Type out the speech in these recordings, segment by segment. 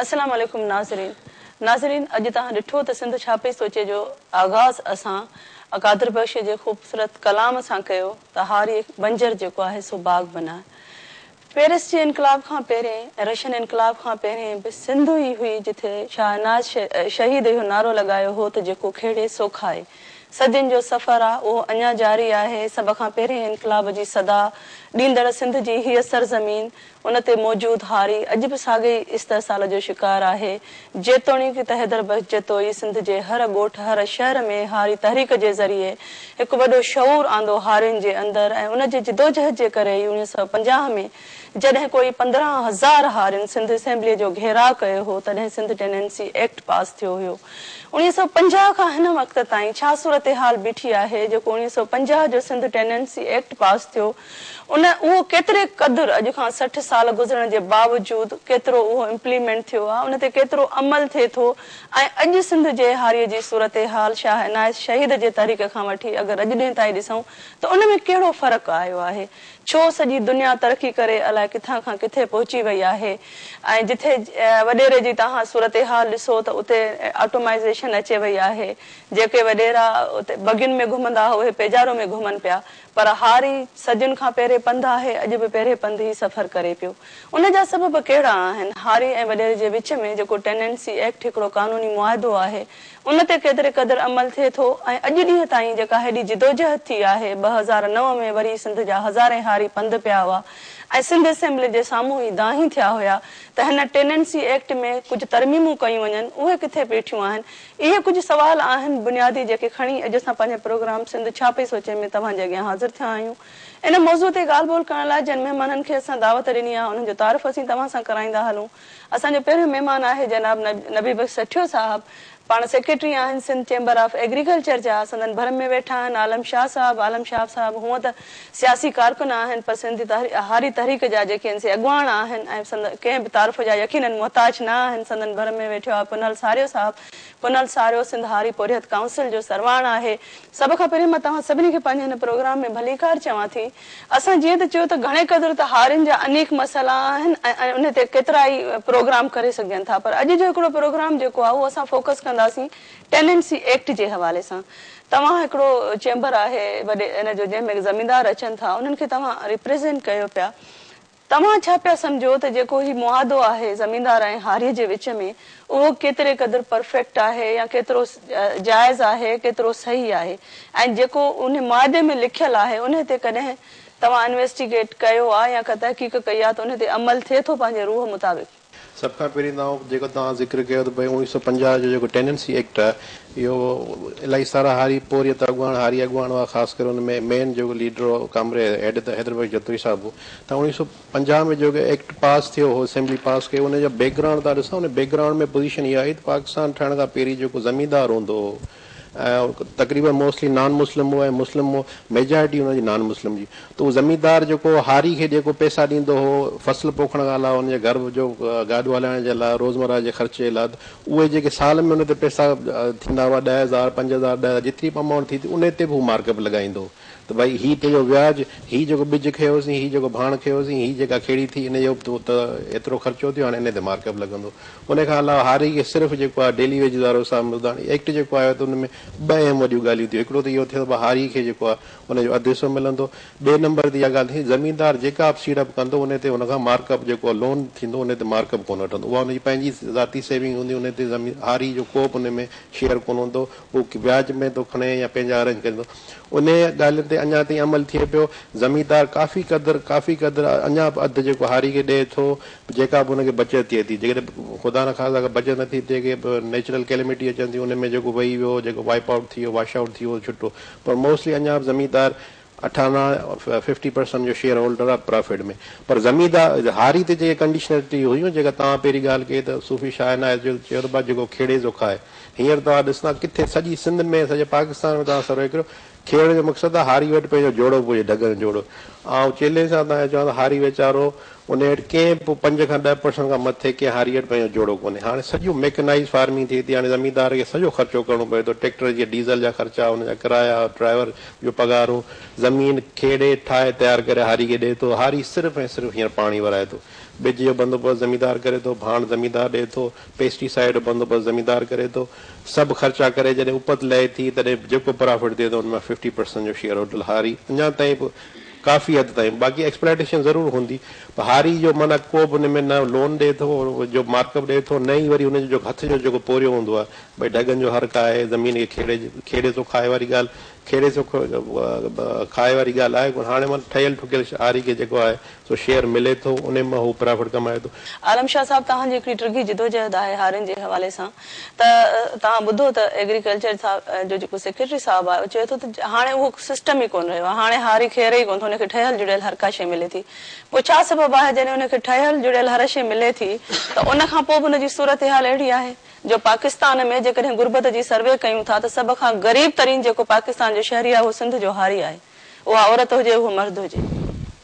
السلام عليڪم ناظرين ناظرين اڄ توهان ڏٺو ته سنڌ ڇا پئي سوچي جو آغاز اسان اڪادر بخش جي خوبصورت ڪلام سان ڪيو ته هاري بنجر جيڪو آهي سو باغ بناء پيرس جي انقلاب کان پهرين ۽ رشن انقلاب کان پهرين به سنڌ ئي هئي جتي شاهه ناز شهيد اهو نعرو لڳايو هو ته جيڪو کهڙي سو کائي صدين جو سفر آهي اهو اڃا جاري آهي سڀ کان پهرين انقلاب جي صدا ڏيندڙ سنڌ جي هيء سرزمين ان تي موجود هاري اڄ به ساڳئي استحصال جو شڪار آهي. جيتوڻيڪ ته حيدر بخش جتوئي سنڌ جي هر ڳوٺ هر شهر ۾ هاري تحريڪ جي ذريعي هڪ وڏو شعور آندو هارين جي اندر ۽ ان جي جدوجهد جي ڪري ئي اڻيهه سؤ پنجاهه ۾ جڏهن ڪوئي پندرهن هزار هارين سنڌ اسيمبليء جو گهيراء ڪيو هو تڏهن سنڌ ٽيننسي ايڪٽ پاس ٿيو هيو. اڻيهه سؤ پنجاهه کان هن وقت تائين ڇا صورتحال بيٺي آهي جيڪو اڻيهه سؤ پنجاهه جو سنڌ ٽيننسي ايڪٽ پاس ٿيو ان اهو ڪيتري قدر اڄ کان سٺ سال گذرڻ جي باوجود ڪيترو اهو امپليمينٽ ٿيو آهي ان تي ڪيترو عمل ٿئي ٿو ۽ اڄ سنڌ جي هاري جي صورتحال شاهه عنايت شهيد جي تحريڪ کان وٺي اگر اڄ ڏينهن تائين ڏسون ته ان ۾ ڪهڙو فرق آيو آهي ڇو سڄي دنيا ترقي ڪري الاء ڪٿان کان ڪٿي پهچي وئي آهي ۽ جٿي وڏيري جي تهان صورتحال ڏسو ته اتي آٽومائيزيشن اچي وئي آهي جيڪي وڏيرا اتي بگين ۾ گهمندا هئا اهي پيجارو ۾ گهمن پيا پر هاري صدين کان پهرين پنڌ آهي، اڄ به پهرين پنڌ ئي سفر ڪري پيو. ان جا سبب ڪهڙا آهن؟ هاري ۽ وڏيري جي وچ ۾ جيڪو ٽيننسي ايڪٽ هڪڙو قانوني معاهدو آهي، ان تي ڪيتري قدر عمل ٿئي ٿو ۽ اڄ ڏينهن تائين جيڪا هيڏي جدوجهد ٿي آهي، ٻه هزار نو ۾ وري سنڌ جا هزارين هاري پنڌ پيا هئا ۽ سنڌ اسيمبلي جي سامهون ئي دانهين ٿيا هيا ته هن ٽيننسي ايڪٽ ۾ ڪجهه ترميمون ڪيون وڃن، اهي ڪٿي بيٺيون آهن؟ اهي ڪجهه سوال آهن بنيادي جيڪي کڻي اڄ اسان پنهنجي پروگرام سنڌ ڇا پئي سوچي ۾ توهان جي اڳيان حاضر ٿيا آهيون. ان موضوع تي ڳالهه ٻولهه ڪرڻ لاء جن مهمانن کي اسان دعوت ڏني آهي انهن جو تعارف اسين توهان سان ڪرائيندا هلون. اسان جو پهريون مهمان آهي جناب نبي بخش سٺيو صاحب پاڻ سيڪريٽري آهن سنڌ چيمبر آف ايگريڪلچر جا سندن ڀر ۾ ويٺا آهن عالم شاهه صاحب عالم شاهه صاحب هونء ته سياسي ڪارڪن آهن پر سنڌ هاري تحريڪ جا جيڪي ان سي اڳواڻ آهن ۽ سندن ڪنهن به تعارف جا يقينن محتاج نه آهن سندن ڀر ۾ ويٺو آهي پنهل ساريو صاحب پنهل ساريو سنڌ هاري پورهيت ڪائونسل جو سرواڻ آهي. سڀ کان پهرين مان توهان سڀني کي پنهنجي هن پروگرام ۾ ڀليڪار چوان ٿي اسان جيئن ته چيو ته گهڻي قدر ته هارين جا انيڪ مسئلا آهن ۽ ان تي ڪيترا ئي پروگرام ڪري سگهجن ٿا پر اڄ جو هڪڙو پروگرام جيڪو آهي اهو اسان فوڪس ڪنداسين ٽيننسي ايڪٽ جي حوالي سان توهان هڪڙو چيمبر آهي وڏي ان جو جنهن ۾ زميندار اچن ٿا انهن کي توهان ريپريزينٽ ڪيو پيا توهان ڇا پيا سمجهو ته جيڪو هي معاهدو آهي زميندار ۽ هاري جي وچ ۾ اهو ڪيتري قدر پرفيڪٽ آهي يا ڪيترو جائز آهي ڪيترو صحيح آهي ۽ جيڪو انهي معاهدي ۾ لکيل آهي انهي تي ڪڏهن توهان انويسٽيگيٽ ڪيو آ يا ڪا تحقيق ڪئي آ ته انهي تي عمل ٿئي ٿو پنهنجي روح مطابق. سڀ کان پهرين ته آئون جيڪو توهان ذڪر ڪيو ته ڀئي اڻويهه سؤ پنجاهه جو جيڪو ٽيننسي ايڪٽ آهي اهو الاهي سارا هاري پورهيت اڳواڻ هاري اڳواڻ هئا خاص ڪري ان ۾ مين جيڪو ليڊر هو ڪامريد هيڊ ته حيدر بخش جتوئي صاحب هو ته اڻويهه سؤ پنجاهه ۾ جيڪو ايڪٽ پاس ٿيو هو اسيمبلي پاس ڪيو ان جا بيڪ گرائونڊ تان ڏسان ان بيڪ گرائونڊ ۾ پوزيشن اها آئي ته پاڪستان ٺهڻ کان پهرين جيڪو زميندار هوندو هو تقريبن موسٽلي نان مسلم هو ۽ مسلم هو ميجارٽي ان جي نان مسلم جي ته هو زميندار جيڪو هاري کي جيڪو پئسا ڏيندو هو فصل پوکڻ کان علاوه ان جي گهر جو گاڏو هلائڻ جي لاء روزمره جي خرچ جي لاء اهي جيڪي سال ۾ ان تي پئسا ٿيندا هئا ڏهه هزار پنج هزار ڏهه هزار جيتري به امائونٽ ٿي تي ان تي به هو مارڪ اپ لڳائيندو هو ته ڀائي هي تنهنجو وياج، هي جيڪو ٻج کنيوسين، هي جيڪو ڀاڻ کنيوسين، هي جيڪا کيڙي ٿي ان جو تو ته ايترو خرچو ٿيو هاڻي انهي تي مارڪ اپ لڳندو. انهي کان علاوه هاري کي صرف جيڪو آهي ڊيلي ويجز وارو حساب ملندو. هاڻي ايڪٽ جيڪو آيو ته ان ۾ ٻه اهم وڏيون ڳالهيون ٿيون. هڪڙو ته اهو ٿيو ته ڀا هاري کي جيڪو آهي ان جو اڌ حصو ملندو. ٻئي نمبر تي اها ڳالهه ٿيندي زميندار جيڪا به سيڙپ ڪندو انهي تي هن کان مارڪ اپ جيڪو لون ٿيندو انهي تي مارڪ اپ ڪونه وٺندو. اها ان جي پنهنجي ذاتي سيونگ هوندي انهي تي زمين هاري جو ڪو به انهي ۾ شيئر ڪونه هوندو. هو وياج ۾ ٿو کڻي يا پنهنجا ارينج ڪريندو. انهيء ڳالهه تي اڃا تائين عمل ٿئي پيو. زميندار ڪافي قدر، ڪافي قدر، اڃا به اڌ جيڪو هاري کي ڏئي ٿو، جيڪا به هن کي بچت ٿئي ٿي. جيڪڏهن خدا نه خاصا ڪا بچت نه ٿي ٿئي، ڪي به نيچرل ڪيلمٽي اچن ٿيون، ان ۾ جيڪو وهي ويو، جيڪو وائيپ آئوٽ ٿي ويو، واش آئوٽ ٿي ويو، ڇٽو. پر موسٽلي اڃا به زميندار اٺانا، ففٽي پرسنٽ، جو شيئر هولڊر آهي پرافٽ ۾. پر زميندار، هاري تي جيڪي ڪنڊيشنلٽي هيون، جيڪا توهان پهرين ڳالهه ڪئي ته صوفي شاهه عنايت جو چيو ته ڀاء جيڪو کيڙي سو کائي. هينئر توهان ڏسندا ڪٿي سڄي سنڌ ۾ سڄي پاڪستان ۾ توهان سروي ڪريو کيڙ جو مقصد آ هاري وٽ پنهنجو جوڙو به هجي ڍڳن جوڙو آئون چيلينج سان توهان کي چوان ٿو هاري ويچارو انهي وٽ ڪنهن به پنج کان ڏهه پرسنٽ کان مٿي ڪنهن هاري وٽ پنهنجو جوڙو ڪونهي هاڻي سڄو ميڪنائيز فارمنگ ٿئي ٿي هاڻي زميندار کي سڄو خرچو ڪرڻو پوي ٿو ٽيڪٽر جي ڊيزل جا خرچا ان جا ڪرايا ڊرائيور جو پگهارو زمين کيڙي ٺاهي تيار ڪري هاري کي ڏئي ٿو هاري صرف ۽ صرف هينئر پاڻي ورائي ٿو ٻج جو بندوبست زميندار ڪري ٿو ڀاڻ زميندار ڏئي ٿو پيسٽي سائيڊ بندوبست زميندار ڪري ٿو، سڀ خرچا ڪري جڏهن اپت لهي ٿي تڏهن جيڪو پرافٽ ٿئي ٿو ان مان ففٽي پرسنٽ جو شيئر هوٽل هاري اڃا تائين به ڪافي حد تائين باقي ايڪسپلائيٽيشن ضرور هوندي پر هاري جو معنيٰ ڪو به ان ۾ نه لون ڏئي ٿو جو مارڪ اپ ڏئي ٿو نه ئي وري ان جو هٿ جو جيڪو پورهيو هوندو آهي ڀئي ڍڳن جو هرڪ آهي زمين کي کيڙي کيڙي ٿو کائي واري ڳالهه کيڙي ٿو کائي واري ڳالهه آهي ڪونه هاڻي ٺهيل ٺڪيل هاري کي جيڪو آهي سو شيئر ملي ٿو انهي مان هو پرافٽ ڪمائي ٿو. عالم شاهه صاحب توهان جي هڪڙي ڊگهي جدوجهد آهي هارين جي حوالي سان ته توهان ٻڌو ته ايگريڪلچر جو جيڪو سيڪريٽري صاحب آهي هو چئي ٿو ته هاڻي اهو سسٽم ئي ڪونه رهيو آهي هاڻي هاري خير ئي ڪونه ٿو ان کي ٺهيل جڙيل هر ڪا شيء ملي ٿي پوء ڇا سبب آهي جڏهن ان کي ٺهيل جڙيل هر شيء ملي ٿي ته ان کان پوء به ان جي صورتحال اهڙي آهي جو پاڪستان ۾ جيڪڏهن غربت جي سروي ڪيون ٿا ته سڀ کان غريب ترين جيڪو پاڪستان جو شهري آهي اهو سنڌ جو هاري آهي اها عورت هجي اهو مرد هجي.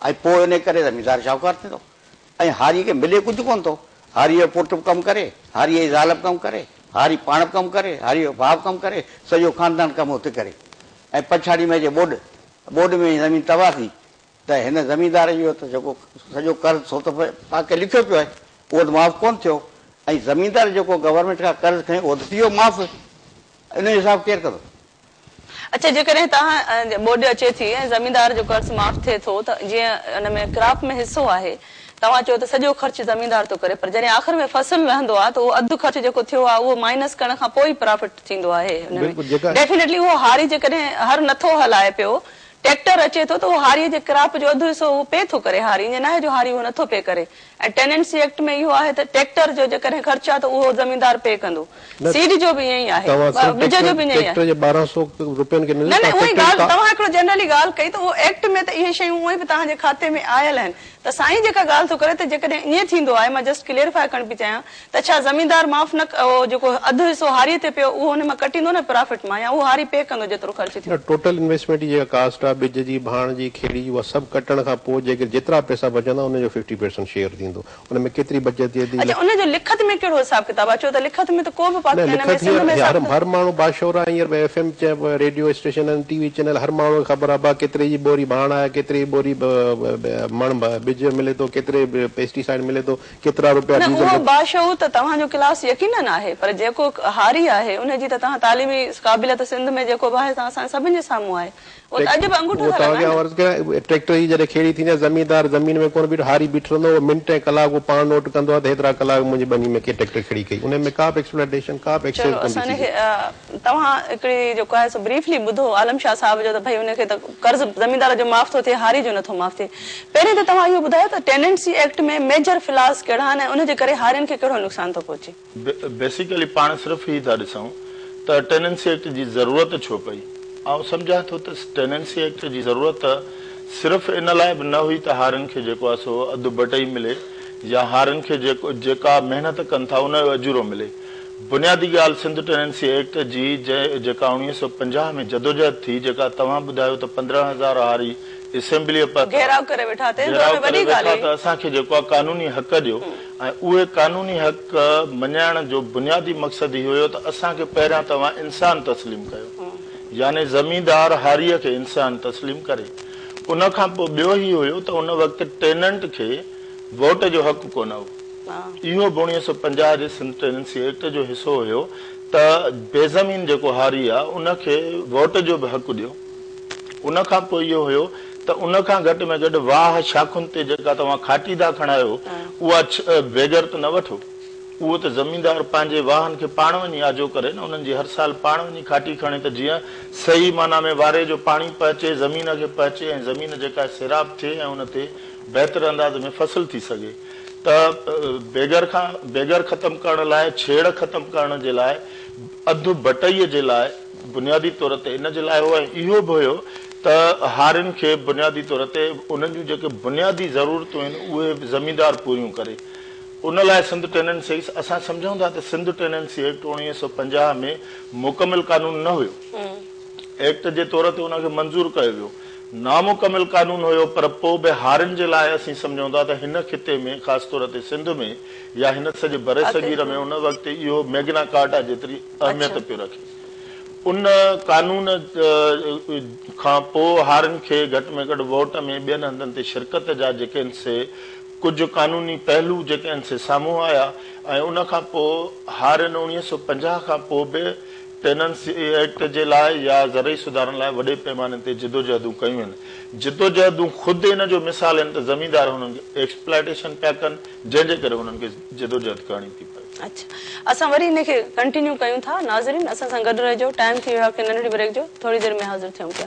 ۽ پوء انهيء ڪري زميندار شاهوڪار ٿيندو ۽ هاريء کي ملي ڪجهه ڪونه ٿو. هاريء جو پٽ به ڪم ڪري، هاريء جي زال به ڪم ڪري، هاري پاڻ به ڪم ڪري، هاريء جو ڀاء به ڪم ڪري، سڄو خاندان ڪم هت ڪري ۽ پڇاڙيء ۾ اچي ٻوڏ. ٻوڏ ۾ زمين تباهه ٿي ته هن زميندار جو ته جيڪو سڄو قرض سو ته پاء کي لکيو پيو آهي، اهو ته معاف ڪونه ٿيو ۽ زميندار جيڪو گورنمينٽ کان قرض کنيو اهو ته ٿي ويو معاف. انهيء جو حساب ڪير ڪندو؟ اڇا جيڪڏهن توهان جي ٻوڏ اچي ٿي ۽ زميندار جو قرض معاف ٿئي ٿو ته جيئن ان ۾ ڪراپ ۾ حصو آهي توهان چئو ته سڄو خرچ زميندار ٿو ڪري پر جڏهن آخر ۾ فصل لهندو آهي ته اهو اڌ خرچ جيڪو ٿيو آهي اهو مائنس ڪرڻ کان پوء ئي پرافٽ ٿيندو آهي ان ۾ ڊيفينيٽلي اهو هاري جيڪڏهن هر نٿو هلائي پيو ٽيڪٽر اچي ٿو ته اهو هاري جي ڪراپ جو اڌ حصو اهو پي ٿو ڪري هاري ائين ناهي جو هاري اهو نٿو پي ڪري ۽ ٽيننسي ايڪٽ ۾ اهو آهي ته ٽيڪٽر جو جيڪڏهن خرچ آهي ته اهو زميندار پي ڪندو. نه سيڊ جو به ائين ئي آهي. توهان صرف ٻج جو به ائين ئي آهي. ٽيڪٽر جي ٻارهن سئو روپين کي نه نه نه اهي ڳالهه توهان هڪڙو جنرلي ڳالهه ڪئي ته اهو ايڪٽ ۾ ته اهي شيون اهي به توهان جي کاتي ۾ آيل آهن ته سائين جيڪا ڳالهه ٿو ڪري ته جيڪڏهن ائين ٿيندو آهي مان جسٽ ڪليريفائي ڪرڻ پئي چاهيان ته ڇا زميندار معاف نه اهو جيڪو اڌ حصو هاري تي پيو اهو ان مان ڪٽيندو نه پرافٽ مان يا اهو هاري پي ڪندو جيترو خرچ ٿيو. نه ٽوٽل انويسٽمينٽ جي جيڪا ڪاسٽ آ ٻج جي ڀاڻ جي کيڙي جي اها سڀ ڪٽڻ کان پوء جيڪي جيترا پئسا بچندا ان جو ففٽي پرسنٽ شيئر ٿيندو ان ۾ ڪيتري بچت ٿئي ٿي اڇا لک. ان جو لکت ۾ ڪهڙو حساب ڪتاب آ چو ته لکت ۾ ته ڪو به پاڪ نه هن ۾ لکت سنڌ هينئر ۾ حساب هر ڪتاب. هر ماڻهو باشعور آ هينئر ايف ايم چئه ريڊيو اسٽيشن آهن ٽي وي چينل هر ماڻهو کي خبر آ ڀا ڪيتري جي ٻوري ڀاڻ آهي ڪيتري جي ٻوري مڻ ٻج ملي ٿو ڪيتري پيسٽي سائيڊ ملي ٿو ڪيترا روپيا نه ڊيزل اهو باشعور ته توهان جو ڪلاس يقينن آهي پر جيڪو هاري آهي ان جي ته توهان تعليمي قابليت سنڌ ۾ جيڪو به آهي سان اسان سڀن جي سامهون آهي اهو ته اڄ به انگوٺو ٿا لڳائين نه. عرض ڪيان ٽريڪٽر جي جڏهن کيڙي ٿيندي آهي زميندار زمين ۾ ڪونه بيٺو هاري بيٺو رهندو اهو منٽ ۽ ڪلاڪ اهو پاڻ نوٽ ڪندو آهي ته هيترا ڪلاڪ منهنجي ٻني ۾ ڪنهن ٽريڪٽر کيڙي ڪئي ان ۾ ڪا به ايڪسپلانٽيشن ڪا به ايڪسيز ڪونه ٿي سگهي. توهان هڪڙي جيڪو آهي سو بريفلي ٻڌو عالم شاهه صاحب جو ته ڀئي ان کي ته قرض زميندار جو معاف ٿو ٿئي هاري جو نٿو معاف ٿئي. پهرين ته توهان اهو ٻڌايو ته ٽيننٽسي ايڪٽ ۾ ميجر فلاز ڪهڙا آهن ۽ ان جي ڪري هارين کي ڪهڙو نقصان ٿو پهچي. بيسيڪلي پاڻ صرف هي ٿا ڏسون ته ٽيننسي ايڪٽ جي ضرورت ڇو پئي. آئون سمجهان ٿو ته ٽيننسي ايڪٽ جي ضرورت صرف ان لاء به نه هئي ته هارين کي جيڪو آهي سو اڌ بٽئي ملي يا هارين کي جيڪا محنت ڪن ٿا ان جو اجورو ملي. بنيادي ڳالهه سنڌ ٽيننسي ايڪٽ جي جنهن جيڪا اڻويهه سؤ پنجاهه ۾ جدوجهد ٿي جيڪا توهان ٻڌايو ته پندرهن هزار هاري اسيمبليء پ پ گهيراء ڪري ويٺا تنهن ته ان ۾ وڏي ڳالهه هئي. اسان کي جيڪو آ قانوني حق ڏيو ۽ اهي قانوني حق مڃائڻ جو بنيادي مقصد هي هيو ته اسان کي پهريان توهان انسان تسليم ڪيو يعني زميندار هاريء کي انسان تسليم ڪري ان کان پوء ٻيو هي هيو ته ان وقت ٽيننٽ کي ووٽ جو حق ڪونه هو. اهو به اڻيوي سؤ پنجاهه جي سنڌ ٽيننسي ايڪٽ جو حصو هيو ته بي زمين جيڪو هاري آ ان کي ووٽ جو به حق ڏيو ان کان پوء اهو هيو ته ان کان گهٽ ۾ گهٽ واهه شاخن تي جيڪا توهان کاٽي ٿا کڻايو اها بيگر ته نه وٺو اهو ته زميندار پنهنجي واهن کي پاڻ وڃي آجو ڪري نه انهن جي هر سال پاڻ وڃي کاٽي کڻي ته جيئن صحيح معنيٰ ۾ واري جو پاڻي پهچي زمين کي پهچي ۽ زمين جيڪا سيراب ٿئي ۽ ان تي بهتر انداز ۾ فصل ٿي سگهي. ته بيگر کان بيگر ختم ڪرڻ لاء، ڇيڙ ختم ڪرڻ جي لاء، اڌ بٽئي جي لاء بنيادي طور تي ان جي لاء هو ۽ اهو به هيو ته هارين کي بنيادي طور تي انهن جون جيڪي بنيادي ضرورتون آهن اهي زميندار پوريون ڪري. ان لاء سنڌ ٽيننسي ايڪس اسان سمجهون ٿا ته سنڌ ٽيننسي ايڪٽ اوڻويهه سؤ پنجاهه ۾ مڪمل قانون نه هيو. ايڪٽ جي طور تي ان کي منظور ڪيو ويو. نامڪمل قانون هيو پر پوء به هارين جي لاء اسين سمجهون ٿا ته هن خطي ۾ خاص طور تي سنڌ ۾ يا هن سڄي برصغير ۾ ان وقت اهو ميگنا ڪارٽا جيتري اهميت پيو رکي. ان قانون کان پوء هارين کي گهٽ ۾ گهٽ ووٽ ۾ ٻين هنڌن تي شرڪت جا جيڪن سي ڪجهه قانوني پهلو جيڪي آهن سي سامهون آيا ۽ ان کان پوء هارين اڻويهه سؤ پنجاهه کان پوء به ٽيننسي ايڪٽ جي لاء يا زرعي سڌارن لاء وڏي پيماني تي جدوجهدون ڪيون وين. جدوجهدون خود ان جو مثال آهن ته زميندار هنن کي ايڪسپلائيٽيشن پيا ڪن جنهن جي ڪري هنن کي جدوجهد ڪرڻي ٿي پوي. اچ اسان وري هن کي ڪنٽينيو ڪيون ٿا. ناظرين اسان سان گڏ رهجو ٽائيم ٿي ويو آهي هڪ ننڍڙي بريڪ جو ٿوري دير ۾ حاضر ٿيون پيا.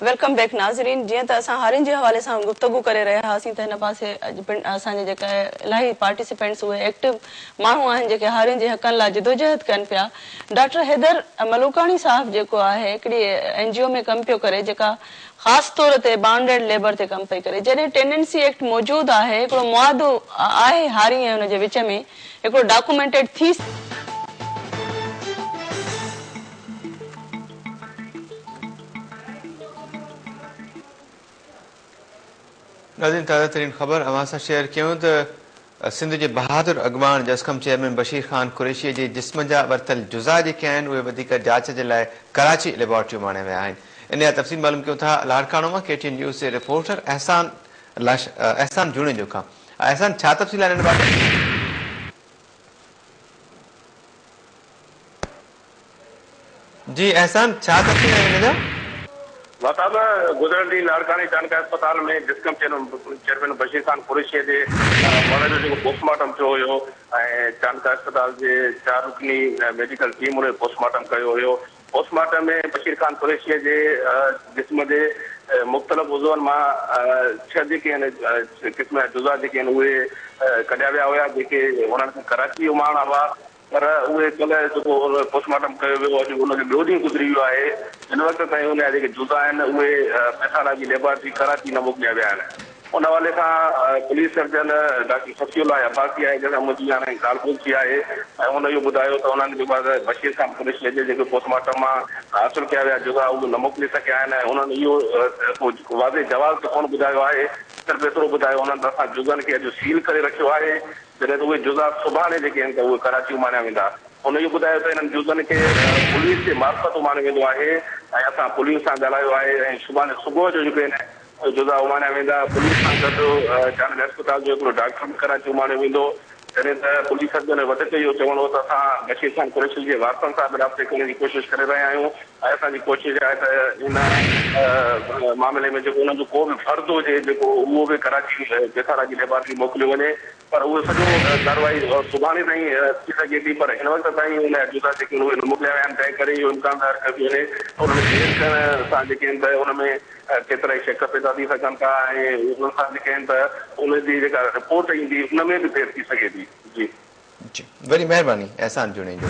ويلڪم بيڪ ناظرين جيئن ته اسان هارين جي حوالي سان گفتگو ڪري رهيا هئاسين ته هن پاسي اڄ پڻ اسان جا جيڪا الاهي پارٽيسپينٽس اهي ايڪٽو ماڻهو آهن جيڪي هارين جي حقن لاء جدوجهد ڪن پيا ڊاڪٽر حيدر ملوڪاڻي صاحب جيڪو آهي هڪڙي اين جي او ۾ ڪم پيو ڪري جيڪا خاص طور تي بانڊيڊ ليبر تي ڪم پئي ڪري جڏهن ٽينڊنسي ايڪٽ موجود آهي هڪڙو معاهدو آهي هارين ۽ ان جي وچ ۾ هڪڙو ڊاڪومينٽيڊ ٿي ناظرين تازه ترين خبر اوهان سان شيئر ڪيون ته سنڌ جي بهادر اڳواڻ جسقم چيئرمين بشير خان قريشي جي جسم جا ورتل جزا جيڪي آهن اهي وڌيڪ جاچ جي لاء ڪراچي ليبارٽريون ماڻيا ويا آهن ان جا تفصيل معلوم ڪيون ٿا لاڙڪاڻو مان ڪي ٽي اين نيوز جي رپورٽر احسان لاش احسان جوڻيجو کان احسان ڇا تفصيل آهن ان بابت جي احسان ڇا تفصيل آهن هن جا؟ مھتاب گذريل ڏينهن لاڙڪاڻي چانڊڪا اسپتال ۾ جسقم چيئرمين بشير خان قريشيء جي مڙھه جو جيڪو پوسٽ مارٽم ٿيو ھيو ۽ چانڊڪا اسپتال جي چار رڪني ميڊيڪل ٽيم ان جو پوسٽ مارٽم ڪيو ھيو پوسٽ مارٽم ۾ بشير خان قريشيء جي جسم جي مختلف عضون مان ڇهه جيڪي آھن قسم جا جزا جيڪي آھن اھي ڪڍيا ويا ھيا جيڪي ھنن کي ڪراچي اماڻا ھئا پر اهي ڪلهه جيڪو پوسٽ مارٽم ڪيو ويو اڄ ان جو ٻيو ڏينهن گذري ويو آهي هن وقت تائين ان جا جيڪي جزا آهن اهي پيٿالاجي ليبارٽري ڪراچي نه موڪليا ويا آهن ان حوالي سان police surgeon doctor Safi Ullah Abbasi آهي جنهن سان منهنجي هاڻي ڳالهه ٻولهه ٿي آهي ۽ هن اهو ٻڌايو ته انهن جيڪو آهي بشير خان پرڏيشيء جي جيڪي پوسٽ مارٽم مان حاصل ڪيا ويا جزا اهي نه موڪلي سگهيا آهن ۽ انهن اهو ڪو واضح جواز ته ڪونه ٻڌايو آهي صرف ايترو ٻڌايو انهن ته اسان جزن کي اڄ سيل ڪري رکيو آهي جڏهن ته اهي جزا سڀاڻي جيڪي آهن ته اهي ڪراچي اماڻيا ويندا. هن اهو بڌايو ته انهن جزن کي پوليس جي معرفت اماڻيو ويندو آهي ۽ اسان پوليس سان ڳالهايو آهي ۽ سڀاڻي صبح جو جيڪي آهن اهي جزا اماڻيا ويندا. پوليس سان گڏ جانويل اسپتال جو هڪڙو ڊاڪٽر به ڪراچي اماڻيو ويندو. جڏهن ته پوليس اڳ ۾ وڌيڪ اهو چوڻ هو ته اسان بشير خان قريشي جي وارثن سان به رابطي ڪرڻ جي ڪوشش ڪري رهيا آهيون. آء اسان جي ڪوشش آهي ته ان معاملي ۾ جيڪو انهن جو ڪو به فرد هجي جيڪو اهو به ڪراچي جيٺالاء جي ليبارٽري موڪليو وڃي پر اهو سڄو ڪارروائي سڀاڻي تائين ٿي سگهي ٿي پر هن وقت تائين ان جا جزا جيڪي اهي موڪليا ويا آهن تنهن ڪري اهو امڪان ظاهر ڪيو ٿي وڃي ته ان ۾ دير ٿيڻ سان جيڪي آهن ته ان ۾ ڪيترائي شڪ پيدا ٿي سگهن ٿا ۽ انهن سان جيڪي آهن ته ان جي جيڪا رپورٽ ايندي ان ۾ به دير ٿي سگهي ٿي جي جي وڏي مهرباني احسان جوڻيجو.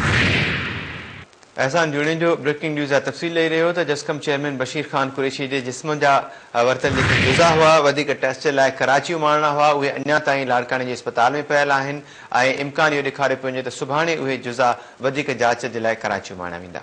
احسان جوڻيجو بريڪنگ نيوز جا تفصيل ڏئي رهيو هو ته جسقم چيئرمين بشير خان قريشي جي جسم جا ورتل جيڪي جزا هئا وڌيڪ ٽيسٽ لاء ڪراچيء مان آڻڻا هئا اهي اڃا تائين لاڙڪاڻي جي اسپتال ۾ پيل آهن ۽ امڪان اهو ڏيکاريو پيو وڃي ته سڀاڻي اهي جزا وڌيڪ جاچ جي لاء ڪراچيء مان آڻيا ويندا.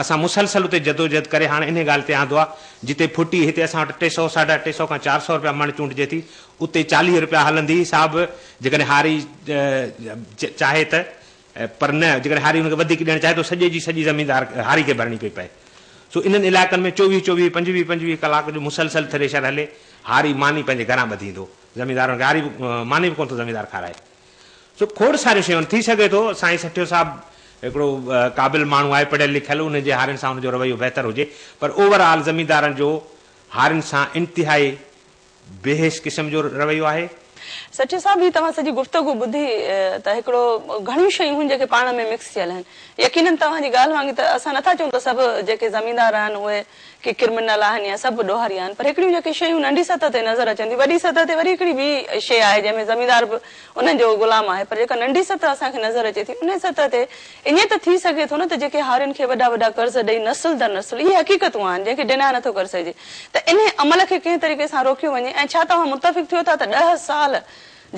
اسان مسلسل اتي جدوجهد ڪري هاڻ انهي ڳالهه تي آندو آهي. جتي ڦٽي هتي اسان وٽ ٽي سؤ، ساڍا ٽي سؤ کان چار سؤ رپيا مڻ چونڊجي ٿي. اتي چاليهه رپيا هلندي هئي سا به جيڪڏهن هاري چاهي ته پر نه جيڪڏهن هاري ان کي وڌيڪ ڏيڻ چاهي ته سڄي جي سڄي زميندار هاري کي ڀرڻي پئي پئي. سو انهن علائقن ۾ چوويهه چوويهه، پنجويهه پنجويهه ڪلاڪ جو مسلسل ٿريشر هلي. هاري ماني پنهنجي گهران ٻڌي ايندو. زميندارن کي هاري ماني به ڪونه ٿو زميندار کارائي. سو کوڙ ساريون شيون ٿي سگهي ٿو سائين سٺيو صاحب هڪڙو قابل ماڻهو آهي پڙهيل لکيل ان جي هارين سان ان جو رويو بهتر هجي پر اوور آل زميندارن جو هارين سان انتهائي بيحيث قسم جو رويو آهي. سٺيو صاحب هي توهان سڄي گفتگو ٻڌي ته هڪڙو گهڻيون شيون هن جيڪي پاڻ ۾ مڪس ٿيل آهن يقينن توهان جي ڳالهه وانگي ته اسان نٿا چئون ته سڀ جيڪي زميندار آهن اهي ڪي ڪرمنل آهن يا سڀ ڏوهاري آهن پر هڪڙيون جيڪي شيون ننڍي سطح تي نظر اچن ٿيون وڏي سطح تي وري هڪڙي ٻي شيء آهي جنهن ۾ زميندار به انهن جو غلام آهي پر جيڪا ننڍي سطح اسان کي نظر اچي ٿي انهي سطح تي ائين ته ٿي سگهي ٿو نه ته جيڪي هارين کي وڏا وڏا قرض ڏئي نسل در نسل اهي حقيقتون آهن جنهن کي ڊيناء نٿو ڪري سگهجي ته انهي عمل کي ڪنهن طريقي سان روڪيو وڃي ۽ ڇا توهان متفق ٿيو ٿا ته ڏهه سال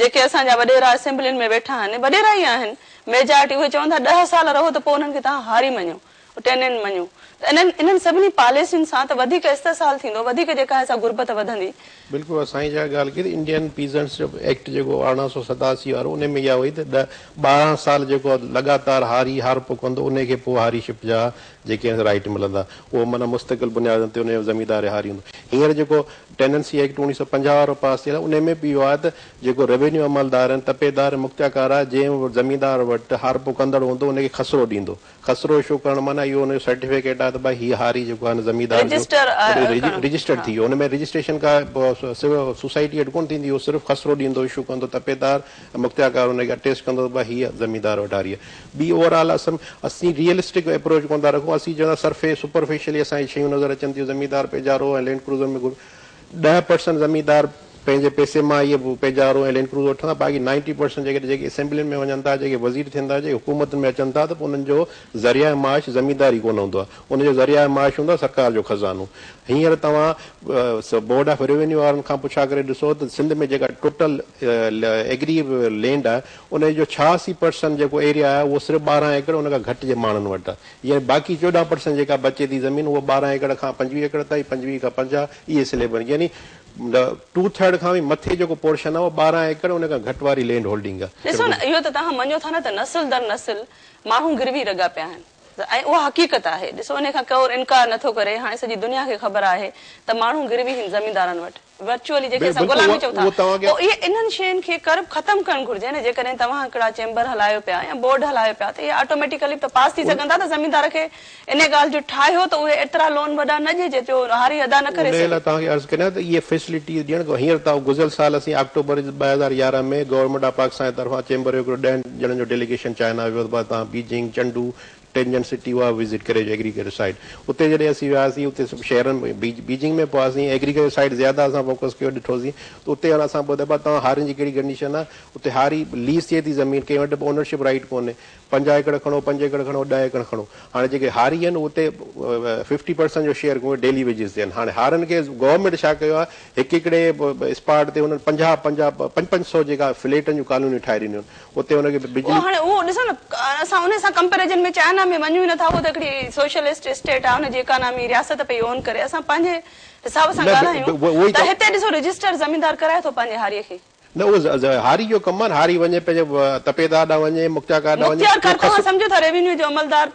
جيڪي اسان جا وڏيرا اسيمبلين ۾ ويٺا آهن وڏيرا ئي آهن ميجارٽي اهي چون ٿا ڏهه سال رهو ته پوء انهن کي توهان هاري مڃو. ٽيننٽ مڃون ته انهن انهن سڀني پاليسين سان ته وڌيڪ استحصال ٿيندو وڌيڪ جيڪا آهي سا غربت وڌندي. بلڪل اها سائين جا ڳالهه ڪئي ته انڊين پيزنٽس جو ايڪٽ جيڪو ارڙهن سو ستاسي وارو ان ۾ اها هئي ته ڏهه ٻارهن سال جيڪو لڳاتار هاري هارپو ڪندو ان کي پوء هاري شپ جا جيڪي آهن رائيٽ ملندا اهو معنيٰ مستقل بنيادن تي ان جو زميندار هاري هوندو هينئر جيڪو ٽيننسي ايڪٽ اوڻيهه سو پنجاهه وارو پاس ٿيل آهي ان ۾ به اهو آهي ته جيڪو ريونيو عملدار ۽ تپيدار ۽ مختياڪار آهي جنهن زميندار وٽ هارپو ڪندڙ هوندو ان کي خسرو ڏيندو خسرو شو ڪرڻ معنيٰ اهو ان جو سرٽيفڪيٽ آهي ته ڀائي هي هاري جيڪو آهي نه زميندار جو رجسٽر ڪرڻ رجسٽر ٿي ويو ان ۾ رجسٽريشن ڪا سوسائٽي وٽ ڪونه ٿيندي اهو صرف خسرو ڏيندو اشو ڪندو تپيدار ۽ مختيارڪار ان کي اٽيسٽ ڪندو ته ڀائي هيء زميندار وٽ هاري آهي ٻي اوور آل اسم اسين ريئلسٽڪ ايپروچ ڪونه ٿا رکون اسين چونداسين سرفي سپرفيشلي اسان کي شيون نظر اچن ٿيون زميندار پيجارو ۽ لينڊ ڪروزر ۾ گهمي ڏهه پرسنٽ زميندار پنهنجي پئسي مان ئي پيجارو ۽ لينڊڪروز وٺن ٿا باقي نائنٽي پرسنٽ جيڪي جيڪي اسيمبلين ۾ وڃن ٿا جيڪي وزير ٿين ٿا جيڪي حڪومتن ۾ اچن ٿا ته پوء انهن جو ذريعه معاش زميندار ئي ڪونه هوندو آهي ان جو ذريعه معاش هوندو آهي سرڪار جو خزانو هينئر توهان بورڊ آف روينيو وارن کان پڇا ڪري ڏسو ته سنڌ ۾ جيڪا ٽوٽل ايگري لينڊ آهي ان جو ڇهاسي پرسنٽ جيڪو ايريا آهي اهو صرف ٻارهن ايڪڙ ان کان گهٽ جي ماڻهن وٽ آهي يعني باقي چوڏهن پرسنٽ جيڪا بچي ٿي زمين اهو ٻارهن ايڪڙ کان پنجويهه ايڪڙ تائين پنجويهه کان پنجاهه اهي سليب آهن يعني ٽو ٿرڊ کان به مٿي جيڪو پورشن آهي اهو ٻارهن ايڪڙ ان کان گهٽ واري لينڊ هولڊنگ آهي. ڏسو نه اهو ته توهان مڃو ٿا نه ته نسل در نسل ماڻهو گروي رڳا پيا آهن ۽ اها حقيقت آهي ڏسو انهي کان ڪور انڪار نٿو ڪري هاڻي سڄي دنيا کي خبر آهي ته ماڻهو گروي هن زميندارن وٽ ورچوئلي جنهن کي اسان غلامي چئون ٿا پوء اهي انهن شين کي ڪرب ختم ڪرڻ گهرجي نه جيڪڏهن توهان هڪڙا چيمبر هلايو پيا يا بورڊ هلايو پيا ته اهي آٽوميٽيڪلي به ته پاس ٿي سگهن ٿا ته زميندار کي انهي ڳالهه جو ٺاهيو ته اهي ايترا لون وڏا نه ڏجي جو هاري ادا نه ڪري سگهي. انهي لاء توهان کي عرض ڪريان ته اهي فيسليٽيز ڏيڻ کان هينئر ته گذريل سال اسين آڪٽوبر ڏهه هزار يارهن ۾ گورنمينٽ آف پاڪستان جي طرفان چيمبر جو هڪڙو ڏهن ڄڻن جو ڊيليگيشن چائنا ويو ته بعد تان بيجنگ، چنڊو، ٽينجن سٽي اها وزٽ ڪري اچو ايگريڪلچر سائيٽ اتي جڏهن اسين وياسين اتي سڀ شهرن ۾ بيجنگ ۾ پوياسين ايگريڪلچر سائيٽ زياده اسان فوڪس ڪيو ڏٺوسين ته اتي هاڻ اسان ٻڌو ڀا توهان هارين جي ڪهڙي ڪنڊيشن آهي اتي هاري ليز ٿئي ٿي زمين ڪنهن وٽ به اونرشپ رائيٽ ڪونهي پنجاهه ايڪڙ کڻو پنج ايڪڙ کڻو ڏهه ايڪڙ کڻو هاڻي جيڪي هاري آهن اتي ففٽي پرسنٽ جو شيئر ڪونهي ڊيلي ويجز تي آهن هاڻي هارن کي گورنمينٽ ڇا ڪيو آهي هڪ هڪڙي اسپاٽ تي هنن پنجاهه پنجاهه پنج پنج سئو جيڪا فليٽن جون ڪالونيون ٺاهي ڏنيون آهن اتي هن کي بجلي. هاڻي اهو ڏسو نه اسان ان سان ڪمپيرزن ۾ چائنا ۾ وڃون ئي نه ٿا اهو ته هڪڙي سوشلسٽ اسٽيٽ آهي ان جي اڪانامي رياست پئي اون ڪري اسان پنهنجي حساب سان ڳالهايون ته هتي ڏسو رجسٽر زميندار ڪرائي ٿو پنهنجي هاري کي. نه اهو هاري جو ڪم آهي نه هاري وڃي پنهنجي تپيدار ڏانهن وڃي مختيارڪار ڏانهن وڃي. مختيارڪار توهان سمجهو ٿا ريونيو جو عملدار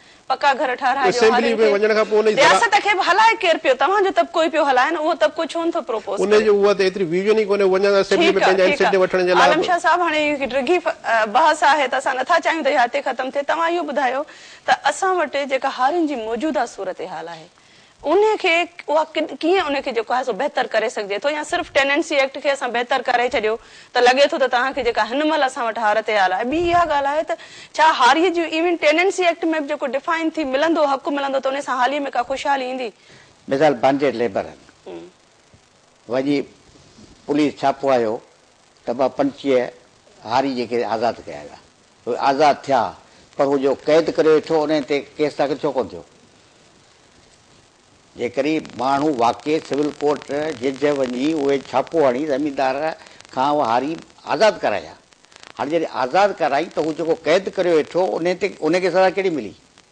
پڪا گهر ٺهرائي ڏيو اسيمبلي هارين ۾ کي. وڃڻ کان پوء ان جي زراعت. رياست کي به هلائي ڪير پيو؟ توهان جو طبقو ئي پيو هلائي نه، اهو طبقو ڇو نٿو پروپوز ان ڪري؟ جي اها ته ايتري ويزن ئي ڪونهي، هو اڃا تائين اسيمبلي ٺيڪ ۾ آ، پنهنجا ٺيڪ آ. انسيٽيو وٺڻ جي لاء عالم به. شاهه صاحب هاڻي هڪ ڊگهي بحث آهي ته اسان نٿا چاهيون ته اها هتي ختم ٿئي، توهان اهو ٻڌايو ته اسان وٽ جيڪا هارين جي موجوده صورتحال آهي. انهي کي اها ڪيئن انهي کي جيڪو آهي سو بهتر ڪري سگهجي ٿو يا صرف ٽيننسي ايڪٽ کي اسان بهتر ڪري ڇڏيو ته لڳي ٿو ته توهان کي جيڪا هن مهل اسان وٽ هارت حال آهي ٻي اها ڳالهه آهي ته ڇا هاري جي ايون ٽيننسي ايڪٽ ۾ به جيڪو ڊفائن ٿي ملندو حق ملندو ته انهي سان هاري ۾ ڪا خوشحالي ايندي. مثال بانڊيڊ ليبر وڃي پوليس ڇاپو هنيو ته ٻه پنچيهه هاري جي کي آزاد ڪيا ويا اهي آزاد ٿيا پر هو جو قيد ڪريو ويٺو انهي تي ڪيس داخل ڇو ڪونه ٿيو؟ جيڪڏهن ماڻهو واقعي سول ڪورٽ جج وڃي اهي ڇاپو هڻي زميندار کان اهي هاري آزاد ڪرائي ها. هاڻي جڏهن آزاد ڪرائين ته هو جيڪو قيد ڪريو ويٺو انهي تي انهي کي سزا ڪهڙي ملي؟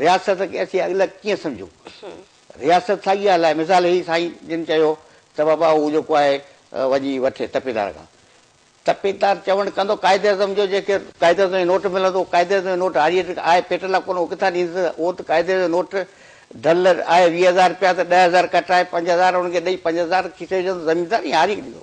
رياست کي اسين اڳلڪ ڪيئن سمجهون؟ رياست ساڳي ڳالهه آهي، مثال هي سائين جن چيو ته بابا هو جيڪو آهي وڃي وٺي تپيدار کان. تپيدار چوڻ ڪندو قائداعظم جو جنهن کي قائداعظم جو نوٽ ملندو اهو قائداعظم جو نوٽ هاريء کي آهي پيٽ لاء ڪونه اهو ڪٿان ڏيندس اهو ته قائداعظم جو نوٽ ڍل آهي ويهه هزار رپيا ته ڏهه هزار ڪٽرائي پنج هزار هن کي ڏئي پنج هزار کيسي وجهندو زميندار ائين هاريء کي ڏيندو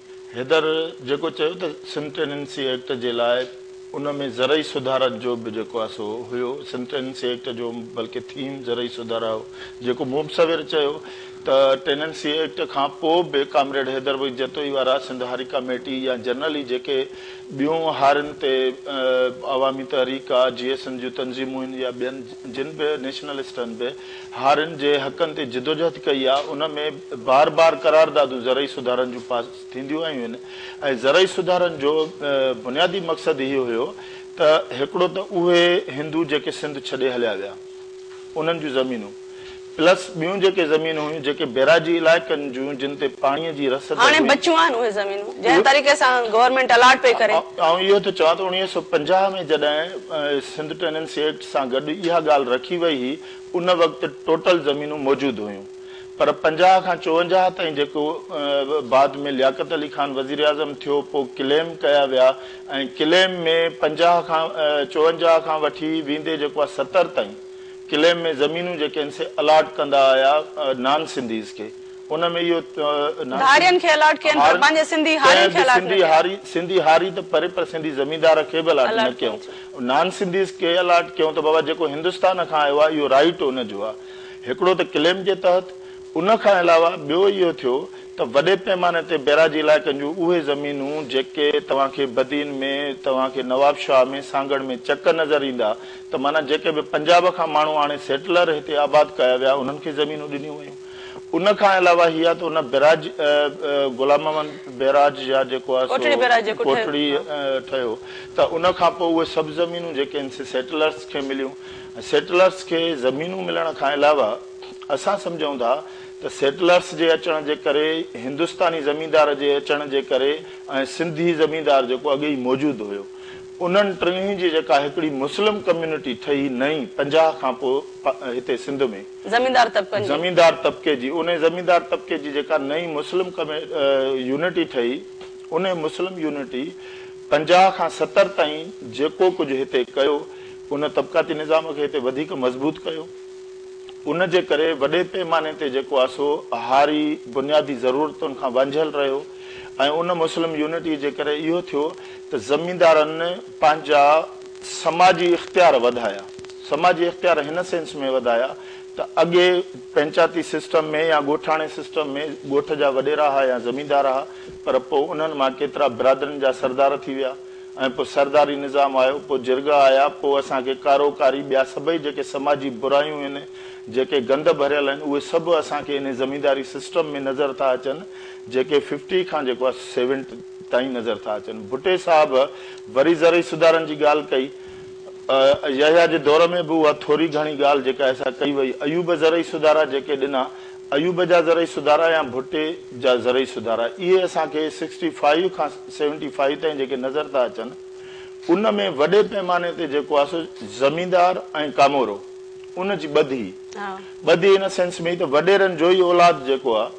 حيدر جيڪو چيو ته سنڌ ٽيننسي ايڪٽ جي لاء ان ۾ زرعي سڌارن جو به جيڪو آهي سو هيو سنڌ ٽيننسي ايڪٽ جو بلڪه ٿيم زرعي سڌارا هو جيڪو مبصور چيو ته ٽيننسي ايڪٽ کان پوء به ڪامريڊ حيدر بخش جتوئي وارا سنڌ هاري ڪاميٽي يا جنرلي جيڪي ٻيون هارين تي عوامي تحريڪ آ جي ايس اين جون تنظيمون هن يا ٻين جن به نيشنلسٽن به هارين جي حقن تي جدوجهد ڪئي آ ان ۾ بار بار قراردادون زرعي سڌارن جون پاس ٿينديون آيون آهن ۽ زرعي سڌارن جو بنيادي مقصد هي هيو ته هڪڙو ته اهي هندو جيڪي سنڌ ڇڏي هليا ويا انهن جون زمينون پلس ٻيون جيڪي زمين هيون جيڪي بيراجي علائقن جون جن تي پاڻي جي رسد هاڻي هئي بچيون آهن اهي زمينون جنهن طريقي سان گورنمينٽ الاٽ پئي ڪري. آئون اهو ٿو چوان ته اڻويهه سؤ پنجاهه ۾ جڏهن سنڌ ٽيننسي ايڪٽ سان گڏ اها ڳالهه رکي وئي هئي، ان وقت ٽوٽل زمينون موجود هيون پر پنجاهه کان چوونجاهه تائين جيڪو بعد ۾ لياقت علي خان وزيراعظم ٿيو پوء ڪليم ڪيا ويا ۽ ڪليم ۾ پنجاهه کان چوونجاهه کان وٺي ويندي جيڪو آهي ستر تائين ڪليم ۾ زمينون جيڪي آهن سي الاٽ ڪندا آيا نان سنڌيز کي ان ۾ اهو نه هارين کي الاٽ ڪين پر پنهنجي سنڌي هارين کي الاٽ نه ڪيون. سنڌي هاري ته پري پر سنڌي زميندار کي به الاٽ نه ڪيون. نان سنڌيز کي الاٽ ڪيون ته بابا جيڪو هندستان کان آيو آهي اهو رائيٽ ان جو آهي. هڪڙو ته ڪليم جي تحت ان کان علاوه ٻيو اهو ٿيو ته وڏي پيماني تي بيراجي علائقن جون اهي زمينون جيڪي توهان کي بدين ۾ توهان کي نواب شاهه ۾ سانگهڙ ۾ چڪ نظر ايندا ته معنيٰ جيڪي به پنجاب کان ماڻهو آڻي سيٽلر هتي آباد ڪيا ويا انهن کي زمينون ڏنيون ويون. ان کان علاوه هي آهي ته ان بئراج غلام محمد بئراج يا جيڪو آهي سو ڪوٽڙي بئراج جيڪو ٺهيو ڪوٽڙي ها. ٺهيو ته ان کان پوء اهي سڀ زمينون جيڪي آهن سي سيٽلرز کي مليون ۽ سيٽلرز کي زمينون ملڻ کان علاوه اسان سمجهون ٿا ته سيٽلرز جي اچڻ جي ڪري هندستاني زميندار جي اچڻ جي ڪري ۽ سنڌي زميندار جيڪو اڳي ئي موجود هيو انهن ٽنهي جي جيڪا هڪڙي مسلم ڪميونٽي ٺهي نئين پنجاهه کان پوء هتي سنڌ ۾. زميندار طبقن جي. زميندار طبقي جي انهي زميندار طبقي جي جيڪا نئين مسلم يونٽي ٺهي انهي مسلم يونٽي پنجاهه کان ستر تائين جيڪو ڪجهه هتي ڪيو ان طبقاتي نظام کي هتي وڌيڪ مضبوط ڪيو ان جي ڪري وڏي پيماني تي جيڪو آ سو هاري بنيادي ضرورتن کان وانجهيل رهيو ۽ ان مسلم يونٽي جي ڪري اهو ٿيو ته زميندارن پنهنجا سماجي اختيار وڌايا، سماجي اختيار هن سينس ۾ وڌايا ته اڳي پنچاتي سسٽم ۾ يا ڳوٺاڻي سسٽم ۾ ڳوٺ جا وڏيرا ها يا زميندار ها پر پوء انهن مان ڪيترا برادرين جا سردار ٿي ويا ۽ پوء سرداري نظام آيو پوء جرڳا آيا پوء اسان کي ڪارو ڪاري ٻيا سڀئي جيڪي سماجي برايون هن جيڪي گند ڀريل آهن اهي سڀ اسان کي انهي زمينداري سسٽم ۾ نظر ٿا اچن جيڪي ففٽي کان جيڪو آهي سيونٽ تائين نظر ٿا اچن ڀٽي صاحب وري زرعي سڌارن جي ڳالهه ڪئي. يحيٰ جي دور ۾ به اها ٿوري گهڻي ڳالهه جيڪا ايسا ڪئي وئي. ايوب زرعي سڌارا جيڪي ڏنا، ايوب جا زرعي سڌارا يا ڀٽي جا زرعي سڌارا، اهي اسان کي سڪسٽي فائيو کان سيونٽي فائيو تائين جيڪي نظر ٿا اچن، ان ۾ وڏي پئماني تي جيڪو آهي سو زميندار ۽ ڪامورو، ان جي ٻڌي، ٻڌي ان سينس ۾ ته وڏيرن جو ئي اولاد جيڪو آهي،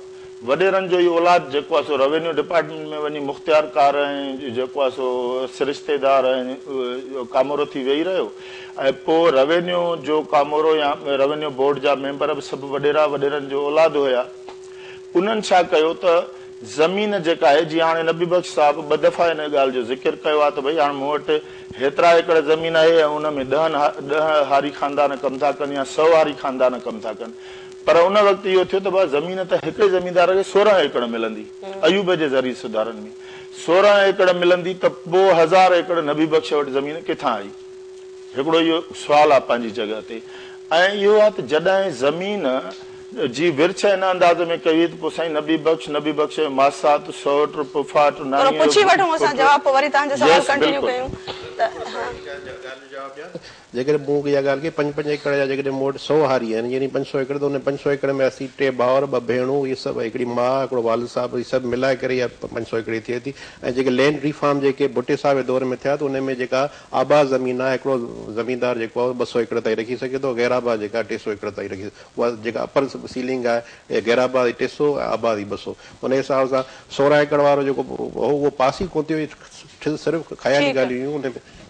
وڏيرن جو اهو اولاد جيڪو آهي سو روينيو ڊپارٽمينٽ ۾ وڃي مختيارڪار ۽ جيڪو آهي سو سرشتيدار ۽ ڪامورو ٿي ويهي رهيو ۽ پوء روينيو جو ڪامورو يا روينيو بورڊ جا ميمبر به سڀ وڏيرا وڏيرن جو اولاد هيا. انهن ڇا ڪيو ته زمين جيڪا آهي جيئن هاڻي نبي بخش صاحب ٻه دفعا ان ڳالهه جو ذڪر ڪيو آهي ته ڀئي هاڻ مون وٽ هيترا ايڪڙ زمين آهي ۽ ان ۾ ڏهن ڏهه هاري خاندان ڪم ٿا ڪن يا سؤ هاري خاندان ڪم ٿا ڪن پر ان وقت اهو ٿيو ته بس زمين ته هڪڙي زميندار کي سورهن ايڪڙ ملندي. ايوب جي زرعي سڌارن ۾ سورهن ايڪڙ ملندي ته پوء هزار ايڪڙ نبي بخش وٽ زمين ڪٿان آئي؟ هڪڙو اهو سوال آهي پنهنجي جڳهه تي ۽ اهو آهي ته جڏهن زمين جي ورڇ ان انداز ۾ ڪئي وئي ته پوء سائين نبي بخش، نبي بخش جي ماسات، سئوٽ، پڦاٽ، نانيء جو پٽ، يس بلڪل. جيڪڏهن مون اها ڳالهه ڪئي، پنج پنج ايڪڙ جا جيڪڏهن مون وٽ سؤ هاري آهن، يعني پنج سؤ ايڪڙ، ته ان پنج سؤ ايڪڙ ۾ اسين ٽي ڀائر، ٻه ڀيڻون، اهي سڀ، هڪڙي ماء، هڪڙو والد صاحب، اهي سڀ ملائي ڪري اها پنج سؤ ايڪڙ ٿئي ٿي ۽ جيڪي لينڊ ريفارم جيڪي ڀٽي صاحب جي دور ۾ ٿيا ته ان ۾ جيڪا آباد زمين آهي، هڪڙو زميندار جيڪو آهي اهو ٻه سؤ ايڪڙ تائين رکي سگهي ٿو، غير آباد جيڪا آهي ٽي سؤ ايڪڙ تائين رکي سگهي ٿو، اها جيڪا اپر سيلنگ آهي، اها غير آباد جي ٽي سؤ ۽ آباد جي ٻه سؤ، ان حساب سان سورهن ايڪڙ وارو جيڪو هو اهو پاس ئي ڪونه ٿيو، اهي صرف خيالي ڳالهيون هيون، ان ۾.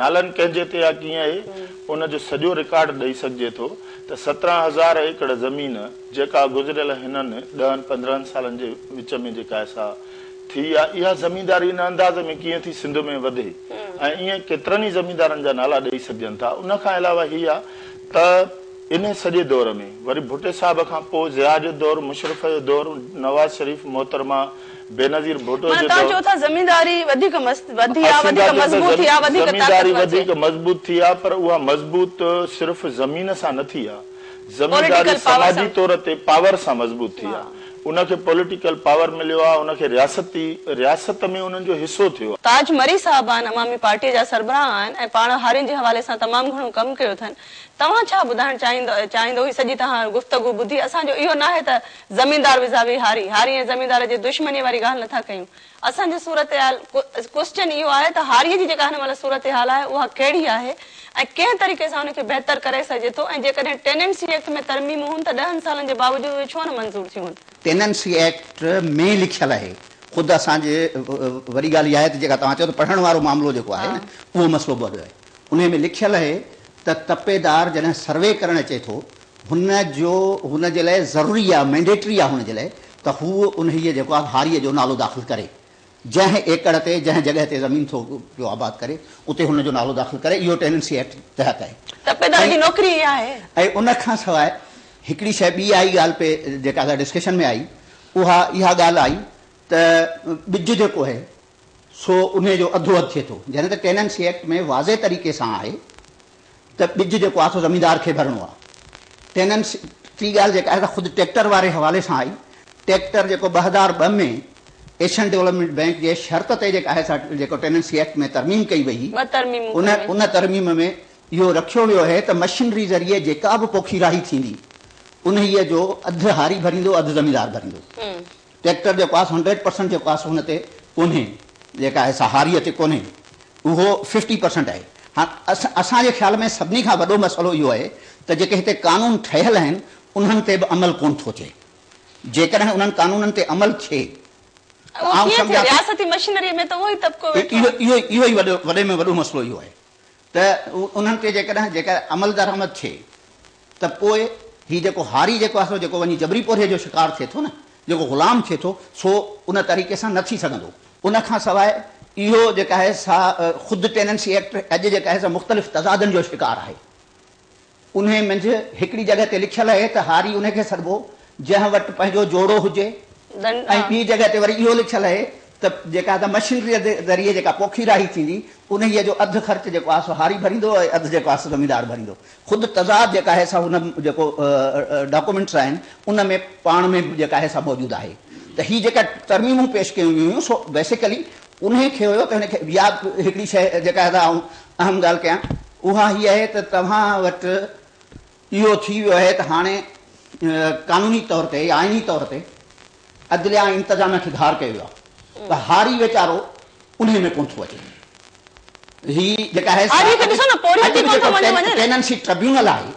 نالن ڪنهن جي تي آ ڪيئن آهي ان جو سڄو رڪارڊ ڏئي سگهجي ٿو ته سترهن هزار ايڪڙ زمين جيڪا گذريل هنن ڏهن پندرهن سالن جي وچ ۾ جيڪا ايسا ٿي آ اها زمينداري ان انداز ۾ ڪيئن ٿي سنڌ ۾ وڌي ۽ ائين ڪيترن ئي زميندارن جا نالا ڏئي سگهجن ٿا ان کان علاوه هي آ ته انهي سڄي دور ۾ وري ڀٽي صاحب کان پوء ضياء جو دور مشرف جو دور نواز شريف محترمه بينظير ڀٽو جي دور ۾ زمينداري وڌيڪ مضبوط ٿي آهي زمينداري وڌيڪ مضبوط ٿي آهي پر اها مضبوط صرف زمين سان نه ٿي آهي زمينداري سماجي طور تي پاور سان مضبوط ٿي آهي ان کي پوليٽيڪل پاور مليو آهي ان کي رياستي رياست ۾ انهن جو حصو ٿيو آهي. تاج مري صاحب آهن عوامي پارٽيء جا سربراهه آهن ۽ پاڻ هارين جي حوالي سان تمام گهڻو ڪم ڪيو اٿن توهان ڇا ٻڌائڻ چاهيندو چاهيندو هي سڄي توهان گفتگو ٻڌي اسان جو اهو ناهي ته زميندار ويزاوي هاري، هاري ۽ زميندار جي دشمنيء واري ڳالهه نٿا ڪيون. اسان جي صورتحال، Question، اهو آهي ته هاريء جي جيڪا هن مهل صورتحال آهي اها ڪهڙي آهي ۽ ڪنهن طريقي سان ان کي بهتر ڪري سگهجي ٿو ۽ جيڪڏهن ٽيننسي ايڪٽ ۾ ترميمون هن ته ڏهن سالن جي باوجود اهي ڇو نه منظور ٿيون هن ٽيننسي ايڪٽ ۾ لکيل آهي خود اسان جي وڏي ڳالهه اها آهي ته جيڪا توهان چيو ته پڙهڻ وارو معاملو جيڪو آهي نه اهو مسئلو به وڏو آهي انهي ۾ لکيل آهي ته تپيدار جڏهن سروي ڪرڻ اچي ٿو هن جو هن جي لاء ضروري آهي، مينڊيٽري آهي هن جي لاء ته هو انهيء جيڪو آهي هاريء جو نالو داخل ڪري، جنهن ايڪڙ تي، جنهن جڳهه تي زمين ٿو پيو آباد ڪري، اتي هن جو نالو داخل ڪري، اهو ٽيننسي ايڪٽ تحت آهي. تپيدار جي نوڪري ئي آهي. ۽ ان کان سواء هڪڙي شيء ٻي آئي ڳالهه پئي جيڪا ڊسڪشن ۾ آئي، اها اها ڳالهه آئي ته ٻج جيڪو آهي، سو انهي جو اڌو اڌ ٿئي ٿو. جڏهن ته ٽيننسي ايڪٽ ۾ واضح طريقي سان آهي ته ٻج جيڪو آهي سو زميندار کي ڀرڻو آهي. ٽيننسي ٽي ڳالهه جيڪا آهي سا خود ٽيڪٽر واري حوالي سان آئي. ٽيڪٽر جيڪو ٻه هزار ٻه ۾ ايشين ڊولپمينٽ بينڪ جي شرط تي جيڪا آهي سا جيڪو ٽيننسي ايڪٽ ۾ ترميم ڪئي وئي هئي ٻه ترميمون ڪيون ويون. ان ترميم ۾ اهو رکيو ويو هي ته مشينري ذريعي جيڪا به پوکيرائي ٿيندي انهي جو اڌ هاري ڀريندو اڌ زميندار ڀريندو. ٽريڪٽر جيڪو آهي سو هنڊريڊ پرسنٽ جيڪو آهي سو هن تي ڪونهي جيڪا آهي سا هاريء تي ڪونهي اهو ففٽي پرسنٽ آهي هاڻ اسان جي خيال ۾ سڀني کان وڏو مسئلو اهو آهي ته جيڪي هتي قانون ٺهيل آهن انهن تي به عمل ڪونه ٿو ٿئي جيڪڏهن انهن قانونن تي عمل ٿئي اهو ڪيئن ٿئي رياستي مشينريء ۾ ته اهو ئي طبقو ويٺو آهي اهو ئي وڏي ۾ وڏو مسئلو اهو آهي ته انهن تي جيڪڏهن جيڪر عمل درآمد ٿئي ته پوء هي جيڪو هاري جيڪو آهي سو جيڪو وڃي جبري پورهيي جو شڪار ٿئي ٿو نه، جيڪو غلام ٿئي ٿو، سو ان طريقي سان نه ٿي سگهندو. ان کان سواء اهو جيڪا آهي سا خود ٽيننسي ايڪٽ اڄ جيڪا آهي سا مختلف تضادن جو شڪار آهي. انهيء منجهه هڪڙي جڳهه تي لکيل اهي ته هاري انهيء کي سڏبو جنهن وٽ پنهنجو جوڙو هجي ۽ ٻي جڳهه تي وري اهو لکيل اهي ته جيڪا ته مشينريء ذريعي جيڪا پوکي راهي ٿيندي انهيء جو اڌ خرچ جيڪو آهي سو هاري ڀريندو ۽ اڌ جيڪو آهي سو زميندار ڀريندو. خود تضاد جيڪا آهي سا هن جيڪو ڊاڪومينٽس آهن ان ۾ پاڻ ۾ به جيڪا آهي سا موجود آهي ته هي جيڪا ترميمون پيش ڪيون ويون هيون سو بيسيڪلي انهيء کي هيو ته هن کي ياد هڪڙي شيء جيڪا ادا آئون اهم ڳالهه ڪيان اها هيء آهي ته توهان وٽ اهو ٿي ويو آهي ته هاڻي قانوني طور تي يا آئيني طور تي عدليه ۽ انتظاميه کي ڌار ڪيو ويو آهي ته هاري ويچارو انهيء ۾ ڪونه ٿو اچي هي جيڪا آهي سا اڄ به جيڪو پيننسي ٽربيونل آهي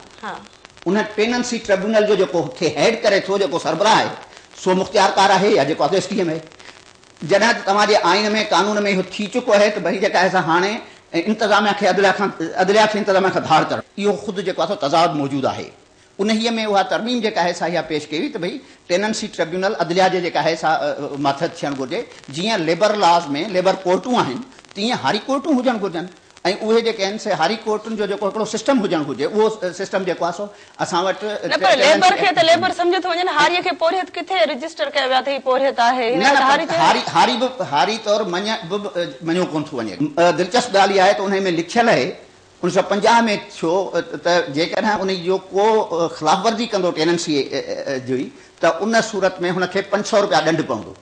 ان پيننسي ٽربيونل جو جيڪو هيڊ ڪري ٿو جيڪو سربراهه آهي سو مختيارڪار آهي يا جيڪو اڳي ايس ڊي ايم اي جڏهن ته توهان جي آئين ۾ قانون ۾ اهو ٿي چڪو آهي ته ڀلي جيڪا احسا هاڻي انتظاميا کي عدليا کان عدليا کي انتظاميا کان ڌار ڪرڻ. اهو خود جيڪو آهي سو تضاد موجود آهي انهيء ۾ اها ترميم جيڪا آهي سا اها پيش ڪئي وئي ته ڀئي ٽيننسي ٽربيونل عدليا جي جيڪا آهي سا ماتحت ٿيڻ گهرجي جيئن ليبر لاز ۾ ليبر ڪورٽون آهن تيئن هاري ڪورٽون هجڻ گهرجن ۽ اهي جيڪي آهن سي هاري ڪورٽن جو جيڪو هڪڙو سسٽم هجڻ گهرجي اهو سسٽم جيڪو آهي سو اسان وٽ نه پر ليبر کي ته ليبر سمجهيو ٿو وڃي نه هاريء کي پورهيت ڪٿي رجسٽر ڪيو ويو آهي ته هي پورهيت آهي هن لاء ته هاري چيو نه هاري به هاري طور مڃ به مڃيو ڪونه ٿو وڃي دلچسپ ڳالهه اها آهي ته انهيء ۾ لکيل اهي انويهه سؤ پنجاهه ۾ ٿيو ته جيڪڏهن انهيء جو ڪو خلاف ورزي ڪندو ٽيننسيء جي ته ان صورت ۾ هن کي پنج سؤ رپيا ڏنڊ پوندو.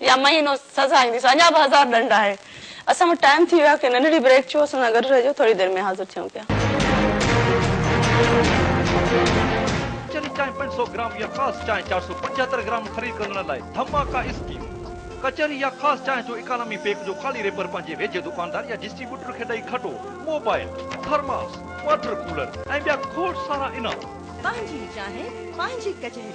يا مهينو سزا اينديس اڃا به هزار ڏنڊ آهي اسان وٽ ٽائيم ٿي ويو آهي ڪي ننڍڙي بريڪ ڇو اسان سان گڏ رهجو ٿوري دير ۾ حاضر ٿيون پيا. ڪچري چانهه پنج سؤ گرام يا خاص چانهه چار سؤ پنجهتر گرام خريد ڪندڙن لاء ڌماڪا اسڪيم، ڪچري يا خاص چانهه جو اڪانامي پيڪ جو خالي ريپر پنهنجي ويجهي دڪاندار يا ڊسٽريبيوٽر کي ڏئي کٽو، موبائل، ٿرماس، واٽر ڪولر ۽ ٻيا کوڙ سارا انعام. پنهنجي چانهه پنهنجي ڪچهري.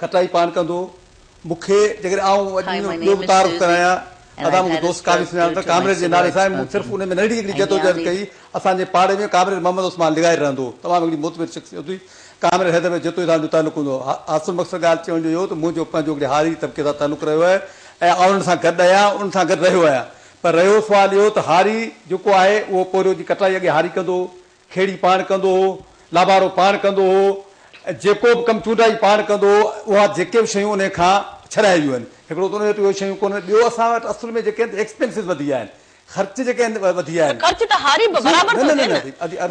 کٽائي پاڻ ڪندو مون کي جيڪڏهن آئون اڄ ان جو ٻيو به تعارف ڪرايان ادا مون کي دوست قاضي سڃاڻن ٿا ڪامريڊ جي نالي سان ۽ مون صرف ان ۾ ننڍڙي هڪڙي جدوجهد ڪئي اسان جي پاڙي ۾ ڪامريڊ محمد عثمان لغاري رهندو هو تمام هڪڙي معتبر شخصيت هئي ڪامريڊ حيدر بيگ جتوئي سان جو تعلق هوندو هو حاصل مقصد ڳالهه چوڻ جو اهو ته منهنجو پنهنجو هڪڙي هاري طبقي سان تعلق رهيو آهي ۽ آئون انهن سان گڏ آهيان انهن سان گڏ رهيو آهيان پر رهيو سوال اهو ته هاري جيڪو آهي اهو پورهيو جي ڪٽائي اڳي هاري ڪندو هو کيڙي پاڻ ڪندو هو، لابارو پاڻ ڪندو هو ۽ جيڪو به ڪم چونڊائي پاڻ ڪندو هو، اها جيڪي به شيون انهي کان ڇڏائي ويون آهن، هڪڙو ته انهي وٽ اهي شيون ڪونهن، ٻيو اسان وٽ اصل ۾ جيڪي آهن ايڪسپينسز وڌي ويا آهن، خرچ جيڪي آهن وڌي ويا ته آهن. خرچ ته هاري به برابر ٿو ٿئي نه،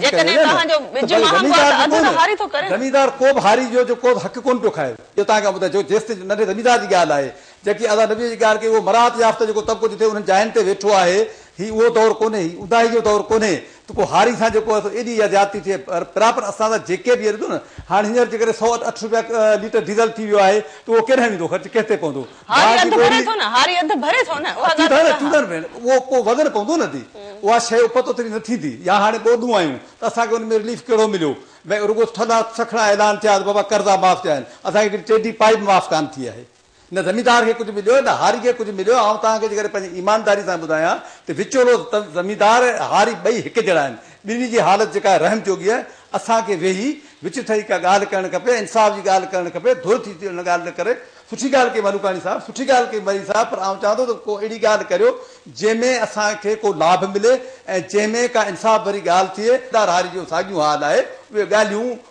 جيڪڏهن توهان جو ٻج مهانگو آهي ته اڌ ته هاري ٿو ڪري نه. زميندار ڪو به هاري جو جو ڪو حق ڪونه پيو کائي، اهو توهان کي ٻڌايو جيس تائين ننڍي زميندار جي ڳالهه آهي، جيڪي اسان نبيء جي ڳالهه ڪئي اهو مراعات يافته جيڪو طبقو جتي انهن جاين تي ويٺو آهي، هي اهو دور ڪونهي، هي اونداهي جو دور ڪونهي، ته پوء هاري سان جيڪو اٿو ايڏي اها زيادتي ٿئي پر پراپر اسان سان جيڪي به ڏسو نه هاڻي هينئر جيڪڏهن سؤ اٺ رپيا ليٽر ڊيزل ٿي ويو آهي ته اهو ڪيڏانهن ويندو خرچ ڪنهن تي پوندو هاري اڌ ڀري ٿو نه هاري اڌ ڀري ٿو نه اها ڳالهه ته ٺيڪ آهي ڀيڻ اهو پوء وزن پوندو نه ڌي اها شيء اپت اوتري نه ٿيندي يا هاڻي ٻوڏون آيون ته اسان کي ان ۾ رليف ڪهڙو مليو ڀئي رڳو ٿڌا سکڻا اعلان ٿيا ته بابا قرضا معاف ٿيا آهن اسان کي ڪڏهن ٽيڊي پائي به معاف ڪانه ٿي آهي. نه زميندار کي ڪجهه مليو نه هاري کي ڪجهه مليو آئون توهان کي جيڪڏهن پنهنجي ايمانداري سان ٻڌايان ته وچولو زميندار ۽ هاري ٻئي هڪ جهڙا آهن ٻنهي جي حالت جيڪا آهي رحم جوڳي آهي اسان کي ويهي وچ ٺهي ڪا ڳالهه ڪرڻ کپي انصاف جي ڳالهه ڪرڻ کپي ڌر ٿي ٿي ان ڳالهه نه ڪري سٺي ڳالهه ڪئي ملوڪاڻي صاحب سٺي ڳالهه ڪئي مري صاحب پر آئون چاهان ٿو ته ڪو اهڙي ڳالهه ڪريو جنهن ۾ اسان کي ڪو لاڀ ملي ۽ جنهن ۾ ڪا انصاف ڀري ڳالهه ٿئي زميندار هاري جو ساڳيون حال آهي اهي ڳالهيون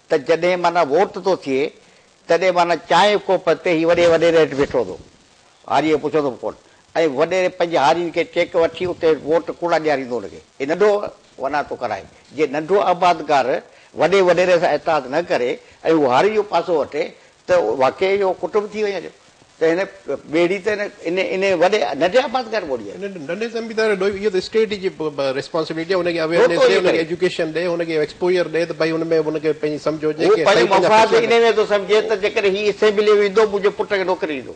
ته جڏهن معنيٰ ووٽ ٿو ٿئي، تڏهن معنيٰ چانهه جي ڪوپ تي هي وڏي وڏيري هيٺ بيٺو هوندو، هاريء کي پڇندو به ڪونه ۽ وڏيري پنهنجي هارين کي چيڪ وٺي اتي ووٽ ڪوڙا ڏياريندو هن کي. هي ننڍو ونا ٿو ڪرائي. جي ننڍو آبادگار وڏي وڏيري سان اتحاد نه ڪري ۽ هو هارين جو پاسو وٺي ته واقعي اهو ڪٽنب ٿي وڃي ته هن ٻيڙي ته ان ان وڏي ننڍي آبادگار ۾ ٻوڙي آهي. ان ننڍي زميندار جو اهو ته اسٽيٽ جي ريسپانسبلٽي آهي ان کي اويئرنيس ڏي ان کي ايجوڪيشن ڏي ان کي ايڪسپوجر ڏي ته ڀائي ان ۾ ان کي پنهنجي سمجهه هجي هو پنهنجا مفاد ان ۾ ٿو سمجهي ته جيڪڏهن هي اسيمبليء ۾ ايندو منهنجي پٽ کي نوڪري ڏيندو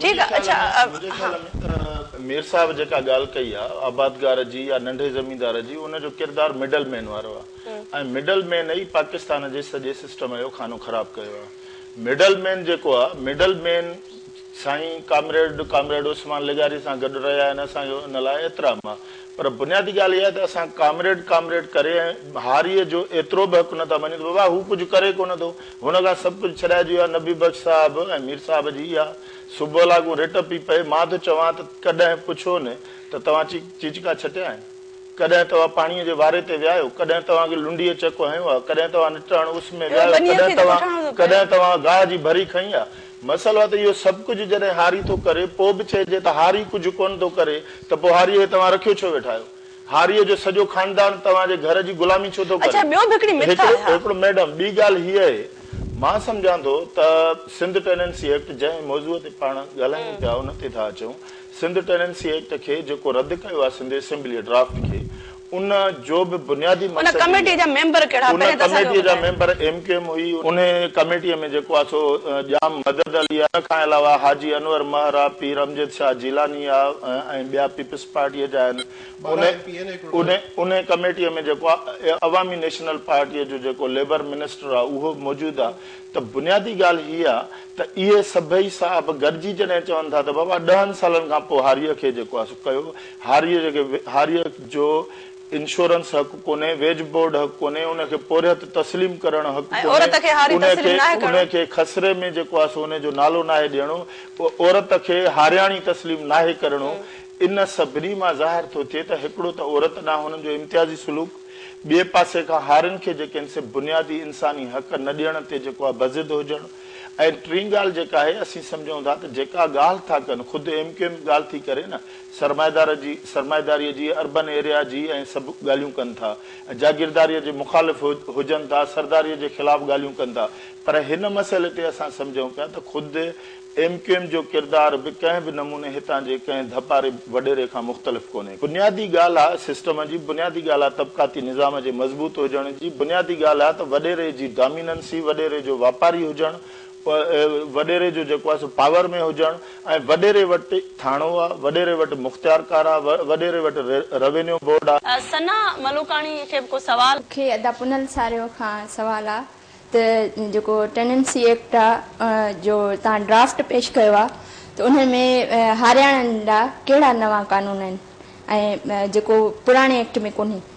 ٺيڪ آ اڇا منهنجي ها. خيال ۾ ته مير صاحب جيڪا ڳالهه ڪئي آ آبادگار جي يا ننڍي زميندار جي ان جو ڪردار مڊل مين وارو آ ۽ مڊل مين ئي پاڪستان جي سڄي سسٽم جو خانو خراب ڪيو آ مڊل مين جيڪو آ مڊل مين سائين ڪامريڊ ڪامريڊ عثمان لغاري سان گڏ رهيا آهن اسان جو ان لاء احترام آ پر بنيادي ڳالهه اها آهي ته اسان ڪامريڊ ڪامريڊ ڪري ۽ هاريء جو ايترو به حق نه ٿا مڃون ته بابا هو ڪجهه ڪري ڪونه ٿو هن کان سڀ ڪجهه ڇڏائجي ويو آهي نبي بخش صاحب ۽ مير صاحب جي اها صبح لاڳون رٽ پي پئي مان ٿو چوان ته ڪڏهن پڇو نه ته توهان چيڪ چيچڪا ڇٽيا آهن ڪڏهن توهان پاڻيء جي واري تي ويا آهيو ڪڏهن توهان کي لنڊيء چڪ هنيو آهي ڪڏهن توهان نٽهڻ اس ۾ ويا آهيو ڪڏهن توهان ڪڏهن توهان گاهه جي ڀري کنئي آهي مسئلو ته اهو سڀ ڪجهه جڏهن هاري ٿو ڪري پوء به چئجي ته هاري ڪجهه ڪونه ٿو ڪري ته پوء هاريء کي توهان رکيو ڇو ويٺا آهيو هاريء جو سڄو خاندان توهان جي گهر جي غلامي ڇو ٿو ڪري؟ اڇا ٻيو به هڪڙي مٿ آهي ها. هڪڙو ميڊم ٻي ڳالهه هيء اهي مان سمجهان ٿو ته سنڌ ٽيننسي ايڪٽ جنهن موضوع تي پاڻ ڳالهايون پيا ان تي ٿا اچون سنڌ ٽيننسي ايڪٽ کي جيڪو رد ڪيو آهي سنڌ اسيمبليء ڊرافٽ کي ان جو به بنيادي مقصد ان ڪميٽيء جا ميمبر ڪهڙا ان پهرين ته اسان کي ڪميٽيء جا ٻڌايو. ميمبر ايم ڪيو ايم هئي انهي ڪميٽيء ۾ جيڪو آهي سو ڄام مدد علي آهي ان کان علاوه حاجي انور مهر آهي پير امجد شاهه جيلاني آهي ۽ ٻيا پيپلز پارٽيء جا آهن. انهي انهي ڪميٽيء ۾ جيڪو آ عوامي نيشنل پارٽيء جو جيڪو ليبر منسٽر آ اهو موجود آ ته بنيادي ڳالهه هيء آ ته اهي سڀئي صاحب گڏجي جڏهن چون ٿا ته بابا ڏهن سالن کان پوء هاريء کي جيڪو آ سو ڪيو هاريء جيڪي هاريء جو انشورنس حق ڪونهي، ويج بورڊ حق ڪونهي، ان کي پورهيت تسليم ڪرڻ حق ڪونهي، عورت کي هاري تسليم ناهي ڪرڻو. ان کي خسري ۾ جيڪو آهي سو ان جو نالو ناهي ڏيڻو، عورت کي هارياڻي تسليم ناهي ڪرڻو، ان سڀني مان ظاهر ٿو ٿئي ته هڪڙو ته عورت ڏانهن هنن جو امتيازي سلوڪ، ٻئي پاسي کان هارين کي جيڪي آهن سي بنيادي انساني حق نه ڏيڻ تي جيڪو آهي بضد هجڻ ۽ ٽين ڳالهه جيڪا آهي اسين سمجهون ٿا ته جيڪا ڳالهه ٿا ڪن خود ايم ڪيو ايم ڳالهه ٿي ڪري نه سرمائيدار جي سرمائيداريء جي اربن ايريا جي ۽ سڀ ڳالهيون ڪن ٿا ۽ جاگيرداريء جي مخالف هجن ٿا سرداريء جي خلاف ڳالهيون ڪن ٿا پر هن مسئلي تي اسان سمجهون پيا ته خود ايم ڪيو ايم جو ڪردار به ڪنهن به نموني هتان جي ڪنهن ڌپاري وڏيري کان مختلف ڪونهي. بنيادي ڳالهه آهي سسٽم جي بنيادي ڳالهه آهي طبقاتي نظام جي مضبوط هجڻ جي بنيادي ڳالهه آهي ته وڏيري جي ڊاميننسي وڏيري جو واپاري هجڻ وڏيري جو جيڪو آهي سو پاور ۾ هجڻ ۽ وڏيري وٽ ٿاڻو آ، وڏيري وٽ مختيارڪار آ، وڏيري وٽ روينيو بورڊ آ. ثنا ملوڪاڻي کي به ڪو سوال؟ مون کي ادا پنهل ساريو کان سوال آ ته جيڪو ٽيننسي ايڪٽ آ جو تان ڊرافٽ پيش ڪيو آ ته ان ۾ هارياڻن لا ڪهڙا نوان قانون آهن ۽ جيڪو پراڻي ايڪٽ ۾ ڪونهي.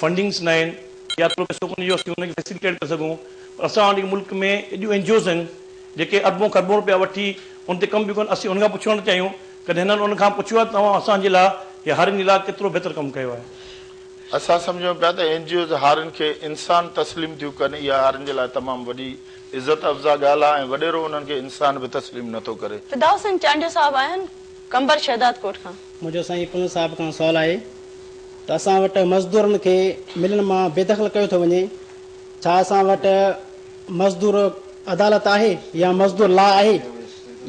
فنڊنگس نه آهن يا ٿورو پئسو ڪونهي جو اسين ان کي فيسيليٽيٽ ڪري سگهون پر اسان وٽ جيڪي ملڪ ۾ ايڏيون اين جي اوز آهن جيڪي اربون کربون روپيا وٺي ان تي ڪم پيون ڪن اسين ان کان پڇڻ ٿا چاهيون ڪڏهن هنن ان کان پڇيو آهي ته اوهان اسان جي لاء يا هارين جي لاء ڪيترو بهتر ڪم ڪيو آهي. اسان سمجهون پيا ته اين جي اوز هارين کي انسان تسليم ٿيون ڪن اها هارين جي لاء تمام وڏي عزت افزا ڳالهه آهي ۽ وڏيرو انهن کي انسان به تسليم نه ٿو ڪري. فدا حسين چانڊيو صاحب آهن. قنبر شهدادڪوٽ کان. منهنجو سائين پنهور صاحب کان سوال آهي ته اسان وٽ مزدورن کي ملن مان بيدخل ڪيو ٿو وڃي ڇا اسان وٽ مزدور عدالت آهي يا مزدور لا آهي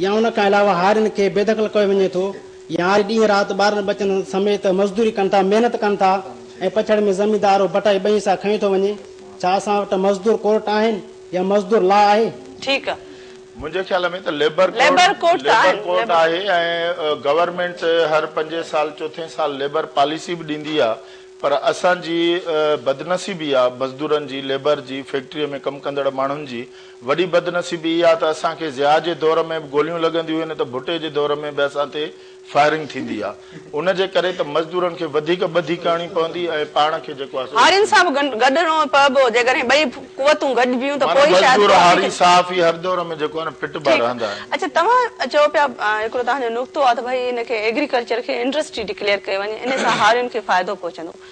يا ان کان علاوه هارين کي بيدخل ڪيو وڃي ٿو يا هاري ڏينهن رات ٻارن ٻچن سميت مزدوري ڪن ٿا محنت ڪن ٿا ۽ پڇڙ ۾ زميندار ڀٽائي ٻئي حصا کنيو ٿو وڃي ڇا اسان وٽ مزدور ڪورٽ آهن يا مزدور لا آهي. ٺيڪ آ منهنجي خيال ۾ ته ليبر ليبر ڪورٽ ڪورٽ ته ليبر آهن ڪورٽ ليبر آهي ۽ گورنمينٽ هر پنجين سال چوٿين سال ليبر پاليسي به ڏيندي آهي پر اسان جي بدنصيبي آهي مزدورن جي ليبر جي فيڪٽري ۾ ڪم ڪندڙ ماڻهن جي وڏي بدنصيبي اها آهي ته اسان کي ضياء جي دور ۾ به گوليون لڳنديون هين ته ڀٽي جي دور ۾ به اسان تي فائرنگ ٿيندي آ ان جي ڪري ته مزدورن کي وڌيڪ ٻڌي ڪرڻي پوندي ۽ پاڻ کي جيڪو آ سو هارين رسڪ صاحب گڏ گڏ نه پئبو جيڪڏهن ٻئي قوتون گڏ بيهون ته معنيٰ پوئي شايد مزدور ڪافي هاري ٿي صحافي هر دور ۾ جيڪو آ نه فٽ با ٺيڪ آ رهندا آهن. اڇا توهان چئو پيا هڪڙو توهان جو نقطو آ ته ڀئي ان کي ايگريڪلچر کي انڊسٽري ڊڪليئر ڪيو وڃي انهي سان هارين کي فائدو پهچندو.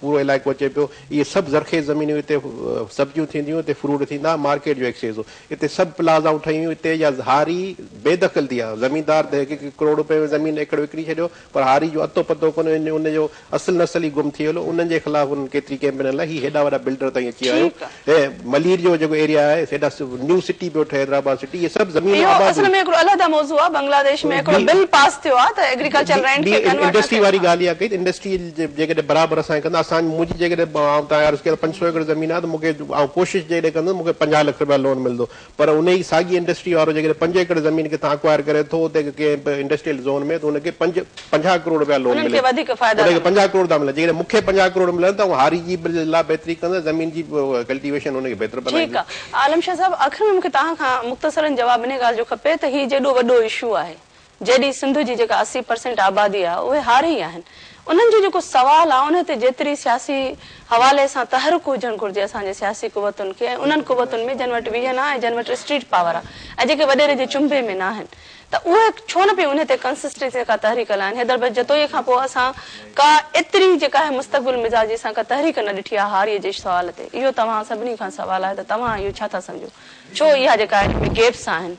پورو علائقو اچي پيو. اهي سڀ زرخيز زمينون هيون. اتي سبزيون ٿينديون، اتي فروٽ ٿيندا، مارڪيٽ جو ايڪسيس هو. اتي سڀ پلازائون ٺهيون هيون. اتي جا هاري بي دخل ٿي ويا. زميندار ته هڪ هڪ ڪروڙ روپين ۾ زمين ايڪڙ وڪڻي ڇڏيو، پر هاري جو اتو پتو ڪونه هو. ان جو اصل نسل ئي گم ٿي ويل هو. انهن جي خلاف انهن ڪيتري ڪئمپين هلائي. هي هيڏا وڏا بلڊر تائين اچي آيو. هي ملير جو جيڪو ايريا آهي هيڏا نيو سٽي پيو ٺهي حيدرآباد سٽي هي سڀ زمين اهو آباد اصل ۾ هڪڙو علحده موضوع آهي بنگلاديش ۾ هڪڙو بل پاس ٿيو آهي ته ايگريڪلچر لينڊ کي ڪنورٽ نه ڪيو انڊسٽري واري ڳالهه اها ڪئي ته انڊسٽري جيڪڏهن برابر اسان کي ڪندا اسان منهنجي جيڪڏهن آئون تان عرض ڪيا ته پنج سؤ ايڪڙ زمين آهي ته مون کي آئون ڪوشش جيڪڏهن ڪندس مون کي پنجاهه لک رپيا لون ملندو پر ان ئي ساڳي انڊسٽري وارو جيڪڏهن پنج ايڪڙ زمين ڪٿان اڪوائر ڪري ٿو اتي ڪنهن به انڊسٽريل زون ۾ ته ان کي پنج پنجاهه ڪروڙ رپيا لون ملي ٿو. ان کي پنجاهه ڪروڙ ٿا ملن. جيڪڏهن مون کي پنجاهه ڪروڙ ملن ته آئون هاري جي به لا بهتري ڪندس زمين جي ڪلٽيويشن ان کي بهتر بنائيندس. ٺيڪ آ عالم شاهه صاحب آخر ۾ مون کي توهان کان مختصرا جواب انهي ڳالهه جو کپي ته هي جيڏو وڏو اشو آهي جيڏي سنڌ جي جيڪا اسي پرسينٽ آبادي آ اهي هاري ئي آهن انهن جو جيڪو سوال آ انهي تي جيتري سياسي حوالي سان تحرڪ هجڻ گهرجي اسان جي سياسي قوتن کي ۽ انهن قوتن ۾ جن وٽ ويهن آ ۽ جن وٽ اسٽريٽ پاور آ ۽ جيڪي وڏيري جي چنبي ۾ ناهن ته اهي ڇو نه پئي انهي تي ڪنسسٽنسي سان ڪا تحريڪ هلائين حيدر بچ جتوئي کان پوء اسان ڪا ايتري جيڪا آهي مستقبل مزاجي سان ڪا تحريڪ نه ڏٺي آ هاري جي سوال تي اهو توهان سڀني کان سوال آهي ته توهان اهو ڇا ٿا سمجهو ڇو اها جيڪا آهي ان ۾ گيپس آهن.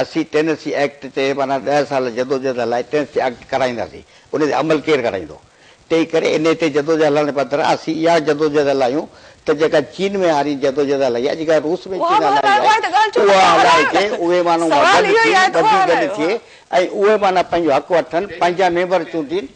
اسين ٽينيسي ايڪٽ تي معنيٰ ڏهه سال جدوجهد هلائي ٽينيسي ايڪٽ ڪرائينداسين، ان تي عمل ڪير ڪرائيندو؟ تنهن ڪري انهي تي جدوجهد هلائڻ بدران اسين اها جدوجهد هلايون ته جيڪا چين ۾ هارين جدوجهد هلائي آهي، جيڪا روس ۾ چين هلائي آهي، اها هلائجي، اهي ماڻهو گڏ ٿين، ٻڌي گڏ ٿئي ۽ اهي معنيٰ پنهنجو حق وٺن، پنهنجا ميمبر چونڊين.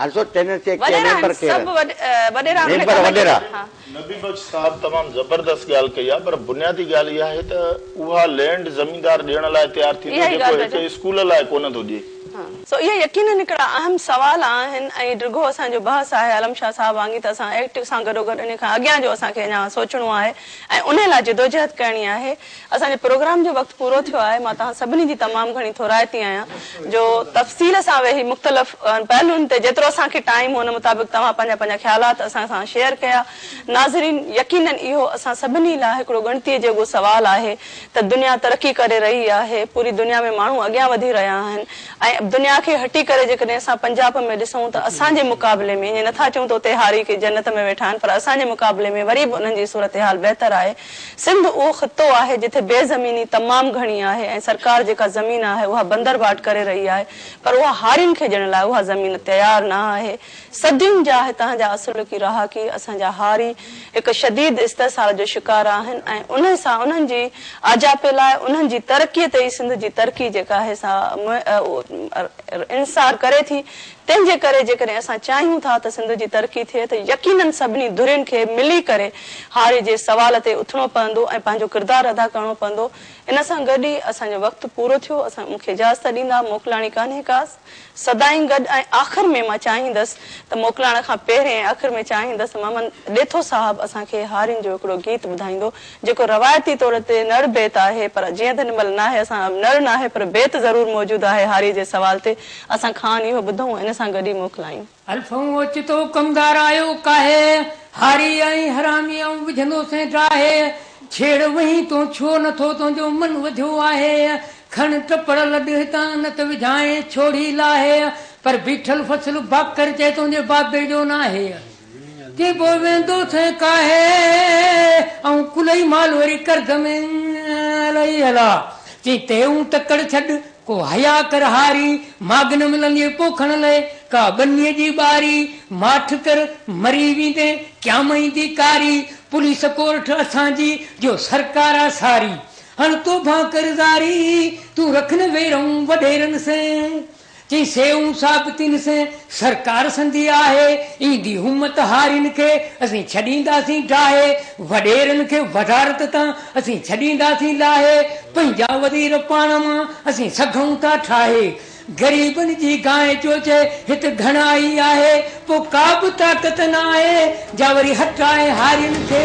حضرت چينن سي ڪي ميمبر ڪير آھن ميمبر وڏيرا. نبي بخش صاحب تمام زبردست ڳالھ ڪئي آ پر بنيادي ڳالھ اها آهي ته اها لينڊ زميندار ڏيڻ لاء تيار ٿيندو جيڪو هڪ اسڪول لاء ڪونه ٿو ڏي. سو اهي يقينن هڪڙا اهم سوال آهن ۽ ڊگهو اسان جو بحث آهي عالم شاھ صاحب وانگي ته اسان ايڪٽ سان گڏوگڏ انهي کان اڳيان جو اسان کي اڃا سوچڻو آهي ۽ انهي لاء جدوجهد ڪرڻي آهي. اسان جي پروگرام جو وقت پورو ٿيو آهي مان توهان سڀني جي تمام گهڻي ٿورائتي آهيان جو تفصيل سان ويهي مختلف پهلون تي جيترو اسان کي ٽائيم هو ان مطابق توهان پنهنجا پنهنجا خيالات اسان سان شيئر ڪيا ناظرين يقينن اهو اسان سڀني لاء هڪڙو ڳڻتي جوڳو سوال آهي ته دنيا ترقي ڪري رهي آهي پوري دنيا ۾ ماڻهو اڳيان وڌي رهيا آهن ۽ دنيا کي هٽي ڪري جيڪڏهن اسان پنجاب ۾ ڏسون ته اسان جي مقابلي ۾ ائين نٿا چئون ته اتي هاري ڪي جنت ۾ ويٺا آهن پر اسان جي مقابلي ۾ وري به انهن جي صورتحال بهتر آهي سنڌ اهو خطو آهي جتي بي زميني تمام گهڻي آهي ۽ سرڪار جيڪا زمين آهي اها بندر ڀاٽ ڪري رهي آهي پر اها هارين کي ڏيڻ لاء اها زمين تيار نه آهي صدين جا هتان جا اصلڪي رهاڪي اسان جا هاري هڪ شديد استحصال جو شڪار آهن ۽ ان سان انهن جي آجاپي لاء انهن جي ترقي تي ئي سنڌ جي ترقي جيڪا آهي سا انحصار ڪري ٿي تنهن جي ڪري جيڪڏهن اسان چاهيون ٿا ته سنڌ جي ترقي ٿئي ته يقينن سڀني ڌرين کي ملي ڪري هاري جي سوال تي اٿڻو پوندو ۽ پنهنجو ڪردار ادا ڪرڻو پوندو ان سان گڏ ئي اسان جو وقت پورو ٿيو اسان مون کي اجازت ڏيندا موڪلاڻي ڪانهي ڪا سدائين گڏ ۽ آخر ۾ مان چاهيندس ته موڪلاڻ کان پهرين ۽ آخر ۾ چاهيندس ته محمد ڏيٿو صاحب اسان کي هارين جو هڪڙو گيت ٻڌائيندو جيڪو روايتي طور تي نڙ بيت آهي پر جيئن ته هن مهل ناهي اسان نڙ ناهي پر بيت ضرور موجود آهي هاري جي سوال تي اسان کان اهو ٻڌئون ان سان گڏ ئي موڪلايون. الفئون اوچتو ڪمدار آيو ڪاهي، هاري ۽ حرامي آئون وجهندو سين ڊاهي، ڇيڙ وهين تون ڇو نه ٿو تنهنجو من وڌيو آهي، کڻ ٽپڙ لڏ هتان نه ته وجهانء ڇوڙي لاهي، پر بيٺل فصل باکر چئه تنهنجي بابي جو ناهي. ڪي به ويندو ٿين ڪاهي ائون ڪلهي مال وري ڪرد ۾ لهي هلا چين تي اون تڪڙ ڇڏ ڪو حيا ڪر هاري ماڳ نه ملندينء پوکڻ لئه ڪا ٻنيء جي ٻاري ماٺ ڪر مري ويندين قيام ايندي ڪاري پوليس ڪورٺ اسان جي جو سرڪار آ ساري هڻ توبهان ڪر زاري تون رک نه ويرون وڏيرن سين. چيائين، سيئون ثابتين سين سرڪار سندي آهي، ايندي همت هارين کي اسين ڇڏينداسين ڊاهي، وڏيرن کي وزارت تان اسين ڇڏينداسين لاهي، پنهنجا وزير پاڻ مان اسين سگهون ٿا ٺاهي، غريبن جي گانء جو چئي هت گهڻا ئي آهي، پوء ڪا به طاقت نه آهي جا وري هٽائي هارين کي.